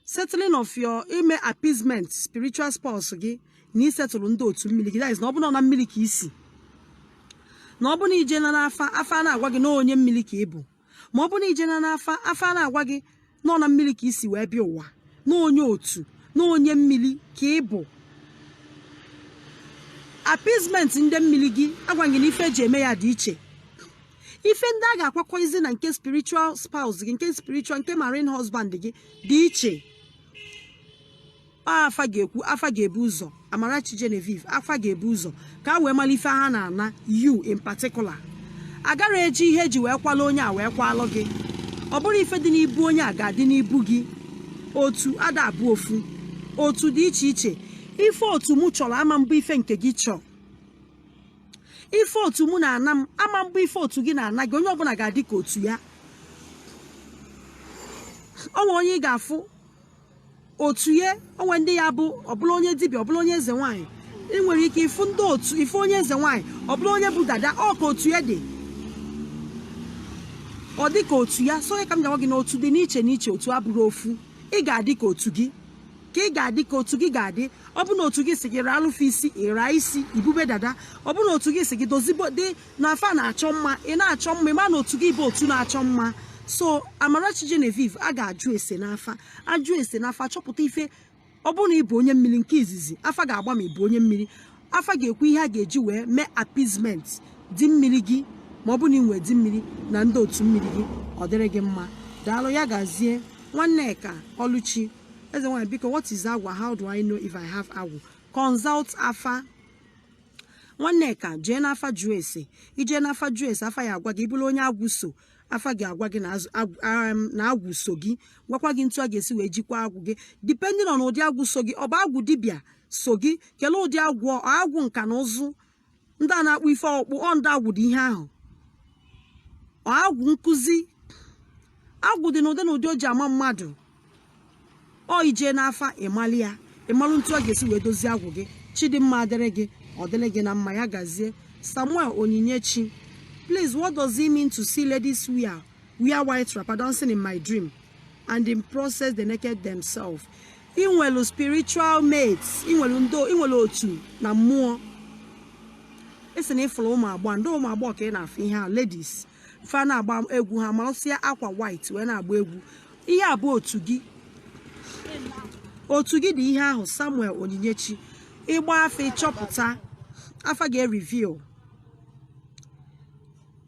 settling of your ime appeasement spiritual spouse gị na isetụlụ ndị otu mmiri gị na ọ bụrụ na mmiri ka isi na ọ bụrụ na ije na n'afa afa na-agwa gị na onye mmiri ka ị bụ ma ọ bụrụ na ije na n'afa afa na-agwa gị na ọ na mmiri ka isi wee bịa ụwa na onye otu na onye mmiri ka ị bụ appeasement ndị mmiri gị agwa gị na ife eji eme ya dị iche ife ndị a ga-akwakọizi na nke spiritual spouse gị nke spiritual nke marine husband gị dị iche afa ga-ekwu afa ga-ebu ụzọ Amarachi Genevieve afa ga-ebu ụzọ ka a wee mara ife ha na-ana you in particular a garọ eji ihe eji wee kwala onye a wee kwalụ gị ọ bụrọ ife dị n'ibu onye a ga-adị n'ibu gị otu ada abụ ofu otu dị iche iche ife otu mụ chọrọ ama abụ ife nke gị chọọ ife otu mụ na-ana m ama abụ ife otu gị na-ana gị onye ọbụla ga-adị ka otu ya o nwee onye ị ga-afụ otu ya o nwee ndị ya bụ ọbụla onye dibịa ọbụla onye eze nwaanyị ị nwere ike ịfụ ndị otu ife onye eze nwaanyị ọbụla onye bụ dada ọ ka otu ya dị ọ dị ka otu ya so ọ ya ka m ga-agwa gị na otu dị n'iche n'iche otu abụrọ ofu ị ga-adị ka otu gị ka ị ga-adị ka otu gị ga-adị ọ bụ na otu gị sị gị raa alụfụ isi ị raa isi i bube dada ọ bụ na otu gị sị gị dozibe dị na fa na-achọ mma ị na-achọ mma ị ma na otu gị bụ otu na-achọ mma so Amarachi Genevieve a ga-ajụ ese n'afa a jụọ ese n'afa chọpụta ife ọ bụrụ na ị bụ onye mmiri nke izizi afa ga-agba ma ị bụ onye mmiri afa ga-ekwu ihe a ga-eji wee mee appeasement di mmiri gị ma ọ bụ na ị nwee di mmiri na ndị otu mmiri gị ọ dịrị gị mma daalụ ya gazie Nwanneka Ọlụchi eze nwaanyị biko what is agwụ how do I know if I have agwụ consult afa Nwanneka jee n'afa jụọ ese i jee n'afa jụọ ese afa ya agwa gị ị bụrụ onye agwụ so afa ga-agwa gị na agwụ so gị gwakwa gị ntu a ga-esi wee jikwa agwụ gị depending on ụdị agwụ so gị ọ bụ agwụ dibịa so gị kelee ụdị agwụ agwụ nka na ụzụ ndị a na-akpụ ife ọkpụ ọ ndị agwụ dị ihe ahụ ọ agwụ nkụzi agwụ dị n'ụdị na ụdị o ji ama mmadụ ọ i jee n'afa ị malụ ya ị malụ ntu a ga-esi wee dozie agwụ gị Chidimma ọ dịrị gị ọ dịrị gị na mma ya gazie Samuel Onyinyechi please what does it mean to see ladies wear wear white wrapper dancing in my dream and in process they naked themselves ị nwere spiritual mates ị nwere ndo ị nwere otu na mmụọ ị sị na ị fụrụ ụmụ agbọghọ ndị ụmụ agbọghọ ka ị na-afụ ihe a ladies fa na-agba egwu ha marụsịa akwa white wee na-agba egwu ihe a bụ otu gị otu gị dị ihe ahụ Samuel Onyinyechi ị gbaa afa ị chọpụta afa ga-ereveal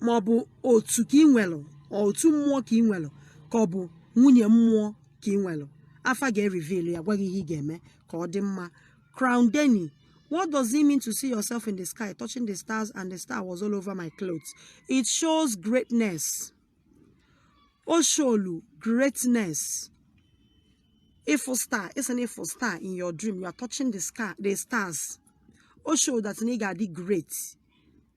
ma ọ bụ otu ka ị nwelụ ọ otu mmụọ ka ị nwelụ ka ọ bụ nwunye mmụọ ka ị nwere afa ga-ereveal ya gwa gị ihe ị ga-eme ka ọ dị mma Crown Denny what does it mean to see yourself in the sky touching the stars and the star was all over my clothes it shows greatness o sholu greatness ịfụ star ị sị na ị fụ star in your dream you are touching the stars o show that na ị ga-adị great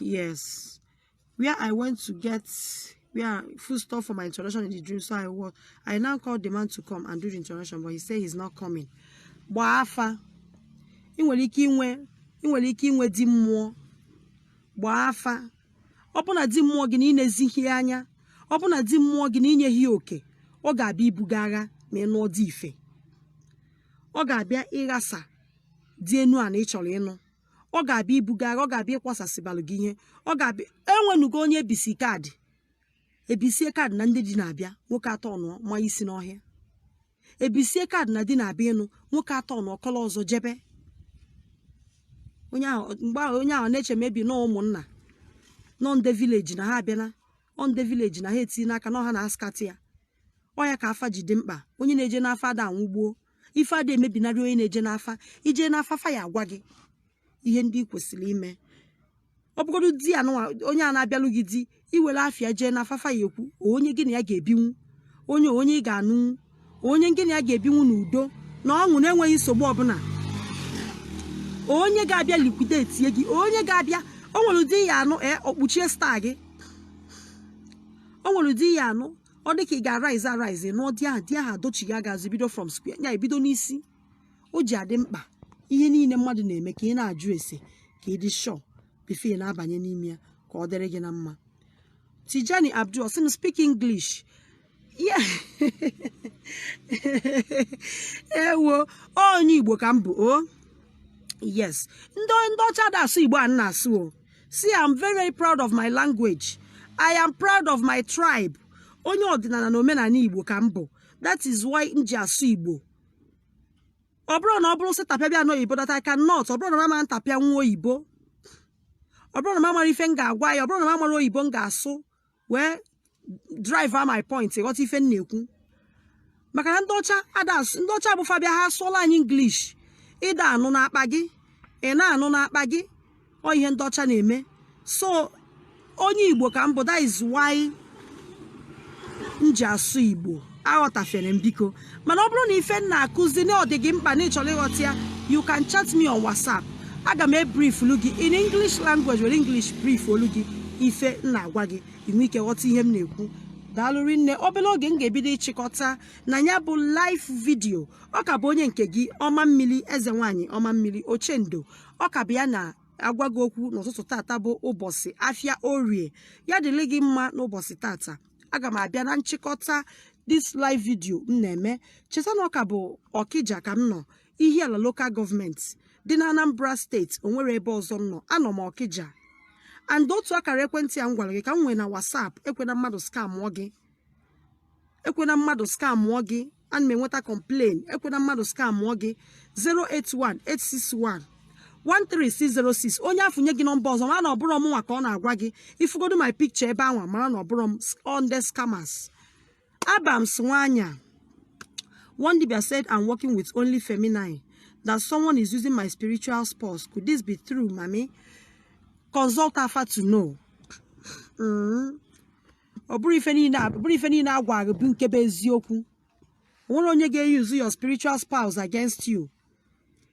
yes where i went to get where food stuff for my introduction in the dream so i was i now called the man to come and do the introduction but he said he's not coming gbaa afa ị nwere ike inwe ị nwere ike inwe di mmụọ gbaa afa ọ bụ na di mmụọ gị na ị nezighị ya anya ọ bụ na di mmụọ gị na i nyeghị ya oke ọ ga-abịa ibuga agha ma ị nụọ di ife ọ ga-abịa ịghasa di enu a na ị chọrọ ịnụ ọ ga-abịa ibuga agha ọ ga-abịa ịkwasasịbalụ gị ihe ọ ga-abịa enwenugo onye e bisie card e bisie card na ndị di na-abịa nwoke atọ ọnụọ ma isi n'ọhịa e bisie card na di na-abịa ịnụ nwoke atọ ọnụọ kọlọ ọzọ jebe onye ahụ mgbe ahụ onye ahụ na-eche maybe na ụmụnna na ọ ndị village na ha abịala ọ ndị village na ha etinyena aka na ọ ha na-ascatter ya ọ ya ka afa ji dị mkpa onye na-eje n'afa ada anwụgbuo ife adị emebinarị onye na-eje n'afa i jee n'afa fa ya-agwa gị ihe ndị ị kwesịrị ime ọ bụgodu di ya nụwa onye a na-abịalụ gị di i were afa ya jee n'afa fa ya-ekwu onye gị na ya ga-ebinwu onye onye ị ga-anụnwu onye gị na ya ga-ebinwu n'udo na ọṅụ na-enweghị nsogbu ọbụla onye ga-abịa liquidate gị onye ga-abịa o nwere ụdị ị ya-anụ ee o kpuchie star gị o nwere ụdị ị ya-anụ ọ dị ka ị ga-arise arise nụọ di ahụ di ahụ adochie ị ya-agazi bido from square ị ya-ebido n'isi o ji adị mkpa ihe niile mmadụ na-eme ka ị na-ajụ ese ka ị dị sure before ị na-abanye n'ime ya ka ọ dịrị gị na mma Tijani Abdul sị m speak English yeah ewo onye Igbo ka m bụ o yes ndị ndị ọcha ada asụ Igbo a na-asụ o see i am very very proud of my language i am proud of my tribe onye ọdịnala na omenala igbo ka m bụ that is why m ji asụ igbo ọ bụrọ na ọ bụrụ sị tapịa bịa n'oyibo that i cannot ọ bụrọ na m ama ntapịanwu oyibo ọ bụrọ na m amarọ ife m ga-agwa ya ọ bụrọ na m amarọ oyibo m ga-asụ wee drive my point ị ghọta ife m na-ekwu maka na ndị ọcha ada ndị ọcha bụ fa bịa ha asụọla anyị English ị da-anụ n'akpa gị ị na-anụ n'akpa gị ọ ihe ndị ọcha na-eme so onye Igbo ka m bụ that is why m ji asụ Igbo aghọtafere m biko mana ọ bụrụ na ife m na-akụzi na ọ dị gị mkpa na ị chọrọ ịghọta ya you can chat me on whatsapp aga m ebriefulu gị in english language were english briefuolu gị ife m na-agwa gị i nwee ike ghọta ihe m na-ekwu daalụ rinne obere oge m ga-ebido ịchịkọta na ya bụ live video ọ ka bụ onye nke gị ọma mmiri eze nwaanyị ọma mmiri ochendo ọ ka bụ ya na-agwa gị okwu n'ụtụtụ tata bụ ụbọchị afịa orie ya dịrị gị mma n'ụbọchị tata aga m abịa na nchịkọta this live video m na-eme cheta na ọ ka bụ ọkija ka m nọ ihiala local government dị na anambra steeti o nwerọ ebe ọzọ m nọ anọ m ọkija and otu akara ekwentị a m gwara gị ka m nwere na whatsapp ekwena mmadụ skamụọ gị ekwena mmadụ skamụọ gị ana m enweta complain ekwena mmadụ skamụọ gị 081 861 13606 onye afụ nye gị nọmba ọzọ mara na ọ bụrọ m nwa ka ọ na-agwa gị ifugodo my picture ebe anwa mara na ọ bụrọ m ọ ndị scammers abams nwanya one dibia said i'm working with only feminine that someone is using my spiritual spouse could this be true mummy consult afa to know mm. ọ bụrọ ife niile a- ọ bụrọ ife niile a gwa gị bụ nke bụ eziokwu o nwerọ onye ga-eyuzu your spiritual spouse against you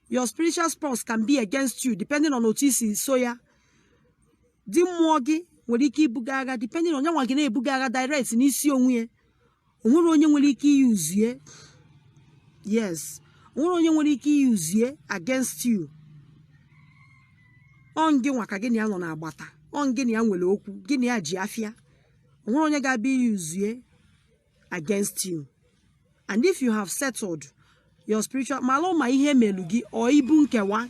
your spiritual spouse can be against you depending on otu i si eso ya di mmụọ gị nwere ike ibu gị agha depending on ọ nya nwa ga na-ebu gị agha direct n'isi onwe ya o nwerọ onye nwere ike iyuzu ya yes o nwerọ onye nwere ike iyuzu ya against you ọ ngị nwa ka gị na ya nọ n'agbata ọ ngị na ya nwere okwu gị na ya ji afịa o nwerọ onye ga-abịa iyuzu ya against you and if you have settled your spiritual malụ ma ihe e melụ gị ọ ibu nkewa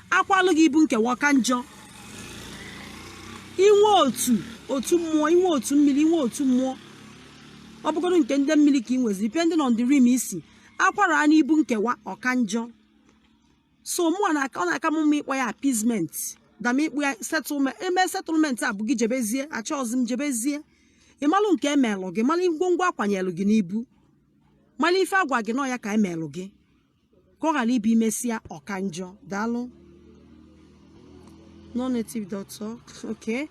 a kwalụ gị ibu nkewa ka njọ i nwe otu otu mmụọ i nwe otu mmiri i nwe otu mmụọ ọ bụgodu nke ndị mmiri ka ị nwezi depending on the realm i si akwara a n'ibu nkewa ọ ka njọ so mụnwa ọ na-aka m mma ịkpọ ya appeasement than ịkpọ ya settlement eme settlement a bụ gị jebezie achọghịzi m jebezie ị malụ nke e melụ gị malụ ngwongwo a kwanyelụ gị n'ibu malụ ife a gwa gị na ọ ya ka e melụ gị ka ọ ghara ịbụ e mesịa ọ ka njọ daalụ no native doctor okay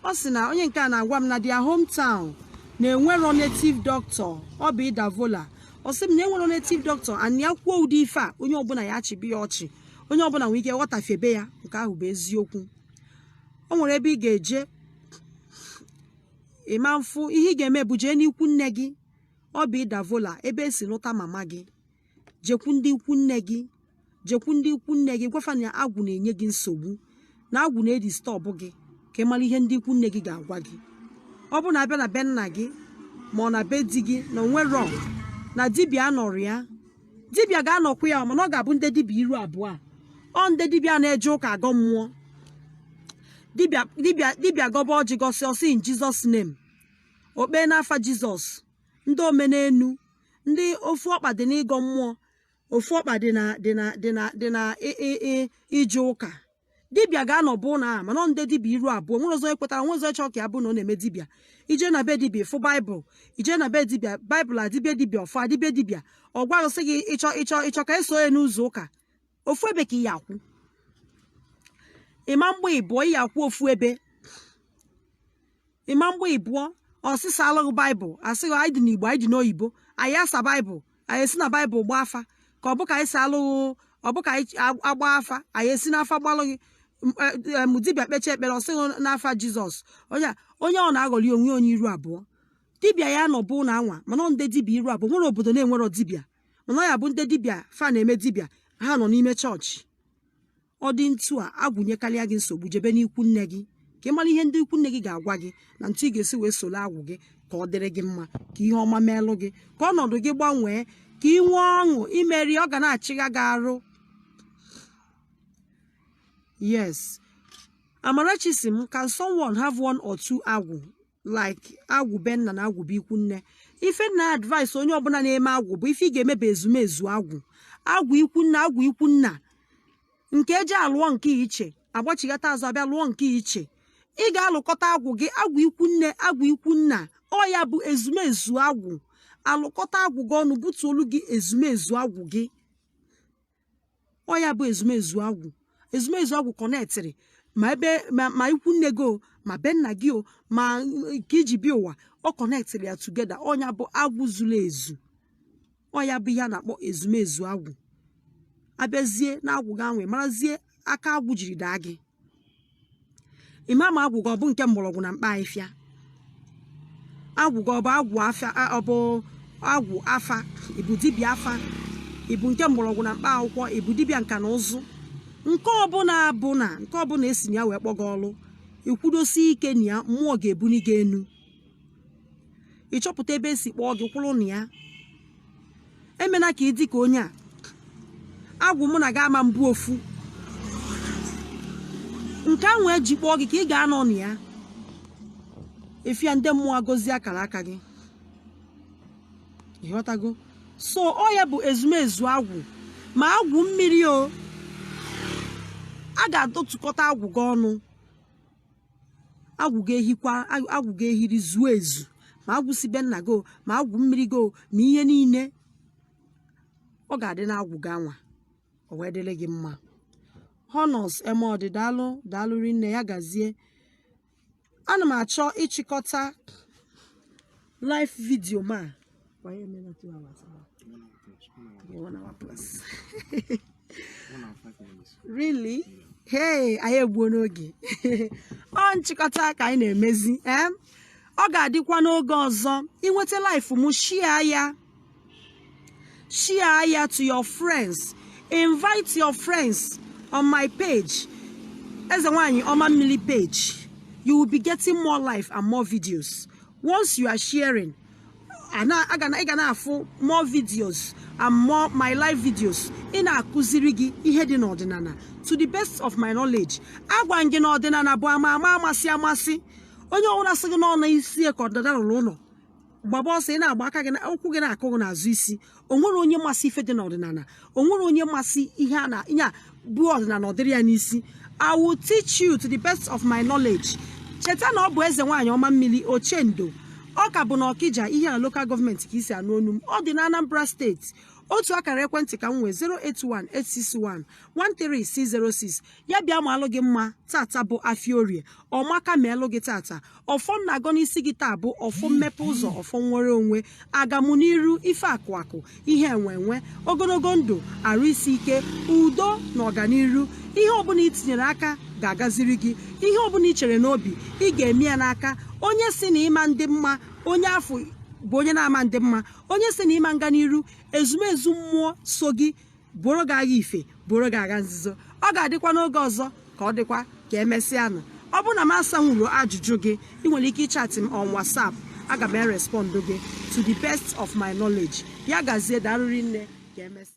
ọ sị na onye nke a na-agwa m na their hometown na enwerọ native doctor obi davola ọ sị m na enwerọ native doctor and ya kwuo ụdị ife a onye ọbụla ya achịba ya ọchị onye ọbụla nwere ike ịghọtafebe ya nke ahụ bụ eziokwu o nwere ebe ị ga-eje ị ma afụ ihe ị ga-eme bụ jee n'ikwu nne gị obi davola ebe e si lụta mama gị jekwu ndị ikwu nne gị jekwu ndị ikwu nne gị gwa fa na agwụ na-enye gị nsogbu na agwụ na-edistọbụ gị ka ị mara ihe ndị ikwu nne gị ga-agwa gị ọ bụ na a bịa na be nna gị ma ọ na be di gị na o nwerọ na dibịa anọrọ ya dibịa ga-anọkwu ya mana ọ ga-abụ ndị dibịa iru abụọ ọ ndị dibịa na-eje ụka agọ mmụọ dibịa gọba ọjị gọsịa ọ sị in jesus name okpe n'afa jizọs ndị omenenu ndị ofu ọkpa dị n'ịgọ mmụọ ofu ọkpa dị na dị na dị na dị na ị- ị- ị- ije ụka dibịa ga-anọ bụ na a mana ọ ndị dibịa iru abụọ nwere ọzọ ekwetara nwere ọzọ chọọ ka ya bụ na ọ na-eme dibịa ije na be dibịa ịfụ baịbụl ije na be dibịa baịbụl adị be dibịa ọfọ adị be dibịa ọ gwarụsị gị ịchọ ịchọ ịchọ ka eso ya n'ụzọ ụka ofu ebe ka ị ya-akwụ ị ma-agba ịbụọ ị ya-akwụ ofu ebe ị ma-agba ịbụọ ọ sị saalụ gị baịbụl a sị gị anyị dị n'igbo anyị dị n'oyibo anyị asa baịbụl anyị esi na baịbụl gbaa afa ka ọ bụ ka anyị saalụ gị ọ bụ ka anyị agba afa anyị esi n'afa gbaalụ gị dibịa kpechaa ekpere ọ sị gị n'afa jizọs onye onye ọ na-aghọli onwe onye iru abụọ dibịa ya-anọ bụ na anwa mana ndị dibịa iru abụọ nwere obodo na-enwerọ dibịa mana ya bụ ndị dibịa fa na-eme dibịa ha nọ n'ime chọọchị ọ dị ntu a agwụ nyekarịa gị nsogbu jebe n'ikwu nne gị ka ị mara ihe ndị ikwu nne gị ga-agwa gị na ntu ị ga-esi wee soro agwụ gị ka ọ dịrị gị mma ka ihe ọma meelụ gị ka ọnọdụ gị gbanwee ka ị nwee ọṅụ imeri ọ ga na-achịgha gị arụ yes amarachi sị m can someone have one or two agwụ like agwụ be nna na agwụ be ikwu nne ife m na-advice onye ọbụla na-eme agwụ bụ ife ị ga-emebe ezumezu agwụ agwụ ikwu nna agwụ ikwu nna nke eji alụọ nke iche agbachighata azụ abịa lụọ nke iche ị ga-alụkọta agwụ gị agwụ ikwu nne agwụ ikwu nna ọ ya bụ ezumezu agwụ alụkọta agwụ gị ọnụ butuolu gị ezumezu agwụ gị ọ ya bụ ezumezu agwụ ezumezu agwụ connectịrị ma ebe ma ikwu nne gị o ma be nna gị o ma ka i ji bịa ụwa ọ connectịrị ya together ọ ya bụ agwụ zuru ezu ọ ya bụ ihe a na-akpọ ezumezu agwụ abịazie na agwụ gị e wee marazie aka agwụ jiri daa gị ịma ma agwụ gị ọ bụ nke mgbọrọgwụ na mkpa ahịfịa agwụ gị ọ bụ agwụ afa ọ bụ agwụ afa ịbụ dibịa afa ịbụ nke mgbọrọgwụ na mkpa akwụkwọ ịbụ dibịa nka na ụzụ nke ọbụla bụ na nke ọbụla esi na ya wee kpọọ gị ọlụ ikwudosi ike na ya mmụọ ga-ebuni gị enu ị chọpụta ebe esi kpọọ gị kwụrụ na ya emena ka ị dị ka onye a agwụ mụ na gị ama-abụ ofu nke ahụ eji kpọọ gị ka ị ga-anọ na ya efia ndị mmụọ agọzie akara aka gị ịghọtago so ọ ya bụ ezumezu agwụ ma agwụ mmiri o a ga-adọtụkọta agwụ gị ọnụ agwụ ga-ehikwa agwụ ga-ehiri zuo ezu ma agwụ si be nna gị ma agwụ mmiri gị ma ihe niile ọ ga-adị na agwụ gị anwa o wee dịrị gị mma honors Emodi daalụ daalụ rinne ya gazie ana m achọ ịchịkọta live video ma kwa ya emela two hours one hour plus really hey anyị egbuona oge ọ nchịkọta ka anyị na-emezi ee eh? ọ ga-adịkwa n'oge ọzọ i nweta live m share ya share ya to your friends invite your friends on my page eze nwanyị ọma mmili page you will be getting more live and more videos once you are sharing ị ga na-afụ more videos and more my live videos ị na-akụziri gị ihe dị n'ọdịnala to the best of my knowledge agwa m gị na ọdịnala bụ ama ama amasị amasị onye ọbụla sị gị na ọ na isi ka ọdịnala ụlọ ụlọ gbaba ọsọ ị na-agba ka ụkwụ gị na-akụ gị n'azụ isi o nwero onye masị ife dị n'ọdịnala o nwero onye masị ihe a na nya bụ ọdịnala ọ dịrị ya n'isi i will teach you to the best of my knowledge cheta na ọ bụ eze nwaanyị ọma mmiri ochendo ọ ka bụ na Ọkịja Ihiala local government ka i si anụ onu m ọ dị na Anambra state otu akara ekwentị ka m nwee 08186113606 ya bịa malụ gị mma tata bụ afịa orie ọmaka malụ gị tata ọfọ m na-agọ n'isi gị taa bụ ọfọ mmepe ụzọ ọfọ nnwere onwe agamụ n'iru ife akụ akụ ihe enwe enwe ogologo ndụ arụ isi ike udo na ọganiru ihe ọbụla i tinyere aka ga-agaziri gị ihe ọbụla i chere n'obi ị ga-eme ya n'aka onye sị na ị ma ndị mma onye afụ bụ onye na-ama ndị mma onye sị na ị ma nga n'iru ezumezu mmụọ so gị buoro gị agha ife buoro gị agha nzuzo ọ ga-adịkwa n'oge ọzọ ka ọ dịkwa ka emesịanụ ọ bụrụ na m asanwuro ajụjụ gị ị nwere ike ịchatị m on WhatsApp aga m erespọndụ gị to the best of my knowledge ya gazie daarụ rinne ka emesịa